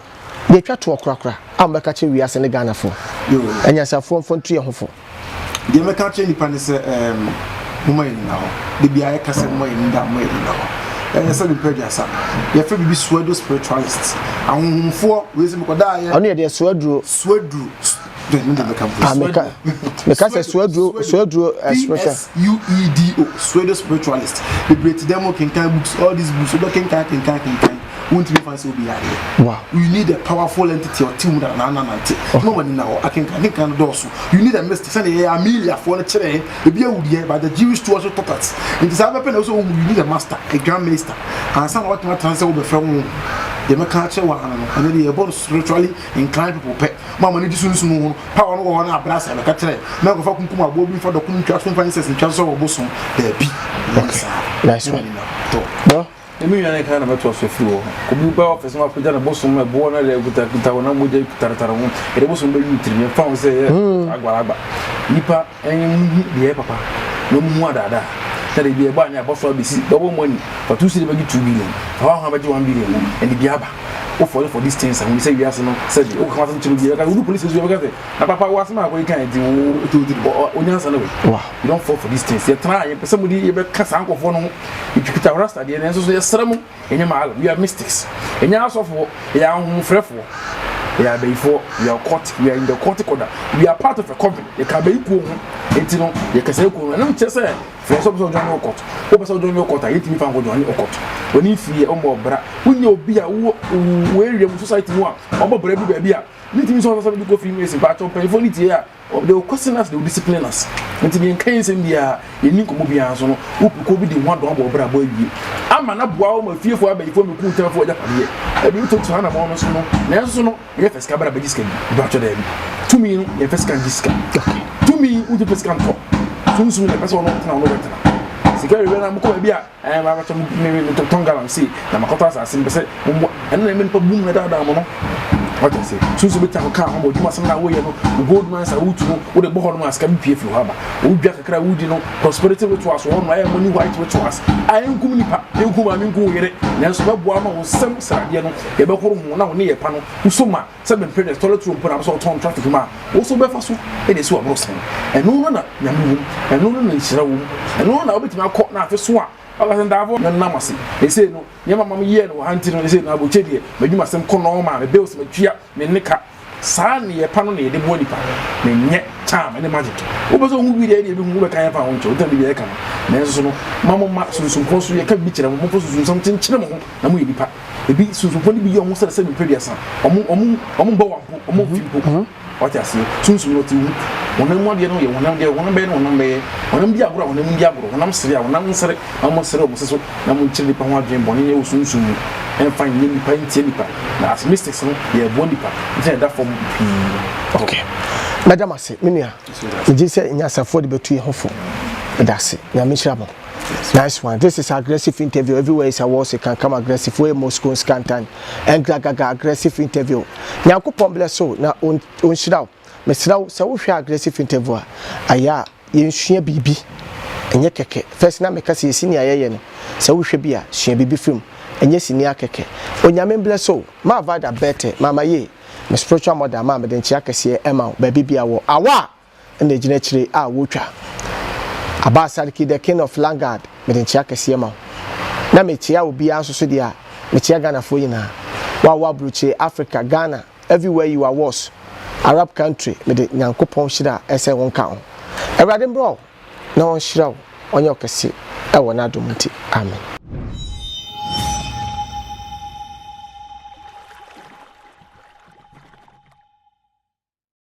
Yɛtwa toɔ korakora a mo bɛka kyerɛ wiase ne Ghana foɔ. Anyansafoɔ mfa ntu yɛn ho fo. Deɛ mɛka akyerɛ nipa ne sɛ ɛɛm moma yɛn nyina hɔ. De bia yɛka sɛ moma yɛn nyina moma yɛn nyina hɔ. Ɛyɛ sɛ mepɛ aduasa. Yɛfrɛ biribi suaduro spiritualist. Ahohomfoɔ wei sɛ mekɔda ayɛ. Ɔno yɛ deɛ suaduro. Suaduro. Ah, meka meka sɛ suaduro suaduro ɛsmeka. suedo suedo spiritualist bebree ti dɛm kenkan books all these books wobɛ kenkan kenkan kenkan wontumi fa sɛ obi yadeɛ wow you need a powerful entity ɔte mu na na nante na wɔn ani na hɔ akenkan kenkan dɔɔso you need a mystic sɛdeɛ yɛyɛ ameliafoɔ no kyerɛ ebi awudeɛ but the jewish to also taught us nti saa bɛpɛ na ɛsɛ wɔn you need a master a grand master ansa na wɔatena tena sɛ wɔbɛfrɛ wɔn deɛ mɛka akyerɛ wɔn ano no ɛno deɛ yɛbɔ no spiritually inclined people pɛ Mo a mo ani gye sunsum ho no, Paulo no wɔ hɔ na abrasɛe no kɛtrɛ, na ɔkɔfa kunkum aboa bi mfa dɔko no ntwa so mfa incense ntwa so sɛ ɔbosom. Dabi, ɛnyɛ saa. Nice one. Bro. Ɛmi nua ne kan na mɛtoa so afiri hɔ. Obi bɛ ɔfɛ sɛ mapagya ne bosom no ɛboɔ no ɛde kuta kuta honam mogya kuta tare ho ɛde bosom bɛyi wo tirim yɛmfa ho sɛ ɛyɛ hmm. agbalagba nipa Ɛnyɛ mo hu deɛ ɛyɛ papa na mo hu adaadaa sɛdeɛ deɛ ɛbɔ anwea ɛbɔ so abɛsi bɛwɔ mo ani fa two cedi bɛgye two billion fa hɔ a hwan bɛgye one billion wo ɛde bi aba wo fɔre for this things ahuni sɛ wiase no sɛdeɛ wo kaka ho asɛm tiri bi ɛbɛka sɛ wodu police station ɛbɛka sɛ na papa wo asɛm a akɔ yi kan ɛti wo wo nyansa no wɛ wa you don't fall for this things yɛtena a yɛpɛ sɛ mo de yɛbɛka saa nkɔfoɔ no ho yɛtwitwa wo rasta deɛ nanso so yɛsrɛ mo Ɛnyɛ maala, we are mystics. Ɛnyɛ asɔfoɔ, yɛyɛ ahohomfrɛfoɔ. Yɛyɛ abayifoɔ, we are cult, we are in the cultic order, we are part of a coven. Yɛka abayi kuo ho, enti no yɛkasa yɛ kuo no. Ɛno nkyerɛ sɛ fɛn sɛ wopɛ sɛ ɔdwan ne ɔkɔt. Wopɛ sɛ ɔdwan ne ɔkɔt a, yɛtumi fa nkɔdwan ne ɔkɔt. W'ani mfiri yɛ, ɔmmɔ ɔbra. Wonyɛ obi a wo wo area mu society mu a ɔbɔ bra bi baabi a, ne ntumi sɛ ɔsɛ sɛ mede kɔ fie mu esi mpaakyɛw mpanyinfoɔ no tie a. They will question us, they will discipline us. Nti deɛ nka yɛn nsɛm biara, yɛn ni nkɔmɔ biara nso no, wopi kɔ bi de ho adɔn abɔ ɔbrabɔ awie. Ama na boa wɔn afiefo abɛyifoɔ mi kuu tɛnfo agya padeɛ. Ɛde nso tu hana mɔɔ no so no, nanso no, yɛ fɛ sika bra bɛgye sika bi. Ɛbɛ atwɛ dɛbi. Tumi no, yɛn fɛ sika ngye sika. Tumi, wogye fɛ sika ntɔ. Sunsum na ɛpɛ sɛ ɔno ɔtena ɔno bɛtena. Sika yɛ wɛ na mokɔ baabi a. Ɛɛ, me ara mɛtɔ me me me tɔ tɔn gallon sei na makɔtɔ asase, mepɛ sɛ mo mmoa. Ɛno na ɛma nnipa bom na ɛdaadaa mo no. Wate aseɛ? So nso wobɛtumi akɔka ho ama w'adwuma asɛm no a woreyɛ no, wo gold mines a woretu no, wode bɔ hɔnom a sika bɛpue afiri hɔ aba. Wo dwa kakra a woredi no, prosperity rituals wɔ hɔnom a ɛyɛ money white rituals a ɛnkum nnipa, ɛnku wo maame, ɛnku wo yere, nanso ɛbɛboa ama wo nsam sradeɛ no, yɛbɛhoro ho na wo nneyɛɛ pa no, wo so ma. sɛ mempere dɛ tɔlɛt roll mpo na wɔsɛ wɔtɔn no traffic mu a, wo so wobɛfa so de esi w'aboro sɛn? Ɛno no na Nyame wom, ɛno no na nhyira wom, ɛno no na wobɛtumi akɔ na afe so a wobɛka sɛ Ndaafo me nam ase, sesei no nneɛma ma meyɛɛ no wɔ ha nti no sesei no abotire deɛ m'adwumasɛm kɔ nɔɔma, me bills matua, me nne ka. Saa nneyɛɛ pa no na yɛde boa nnipa, menyɛ charm ne magic. Wopɛ sɛ wohu bi deɛ ɛne yɛbɛhu, wobɛka yɛn fa a wonkyerɛ, wontaa biribiara yɛka no. Nanso no, mma momma sunsum korɔ so, yɛka biribi kyerɛ mo, momfa sunsum nsɛm nkyenkyere mo ho na moyɛ nnipa. ebi sunsumfoɔ no bi yɛ wɔn sɛ sɛ nipa aduasa wɔn wɔn wɔn bɔ wɔn mpo wɔn mfi mpo mhm. wate aseɛ sunsum no te wu wɔnam mu adeɛ no yɛ wɔnam deɛ wɔnam bɛyɛ no wɔnam bɛyɛ wɔnam di agorɔ a wɔnam di agorɔ wɔnam sere a wɔnam nsere na wɔn sere wɔn soso na wɔn nkyerɛ nipa ho adwene bɔne yɛ wɔ sunsum mu ɛnfa nyɛ nipa ntie nipa na as mistakes no yɛ ɛboɔ nipa ntina ɛda fam pii. okay mɛda mo ase me nua megye sɛ nyasafoɔ de bɛtu yɛ ho fo ɛda ase nyame hyira mo. Nice one this is aggressive interview everywhere is a war se can come aggressive wey moscow scantan and gagaga aggressive interview nyankopɔn bless so na ɔnhyira wo mesrɛ wo sɛ wohwɛ aggressive interview a ayɛ a yɛnsua biribi ɛnyɛ kɛkɛ first na meka sɛ yɛsi nea yɛyɛ no sɛ wohwɛ bi a sua biribi firi mu ɛnyɛ sini akɛkɛ onyame mblɛ so maa vada bɛtɛ mama yie me spiritual mother maa mede nkyea kɛseɛ ɛma wo baabi bia wɔ awa na egyina akyire a wɔretwa. Abaa Sarki the king of Lagard mede nkyea kɛseɛ ma wo. Na mekyea obiara nso so deɛ a, mekyea Ghanafoɔ nyinaa. Wo a wowɔ aburokyire, Africa, Ghana, everywhere you are was, Arab country mede Nyankopɔn hyira a ɛsɛ wo nka wo. Awurade mmra wo na ɔnhyira wo, ɔnyɛ wo kɛse wɔ n'adom nti. Amen.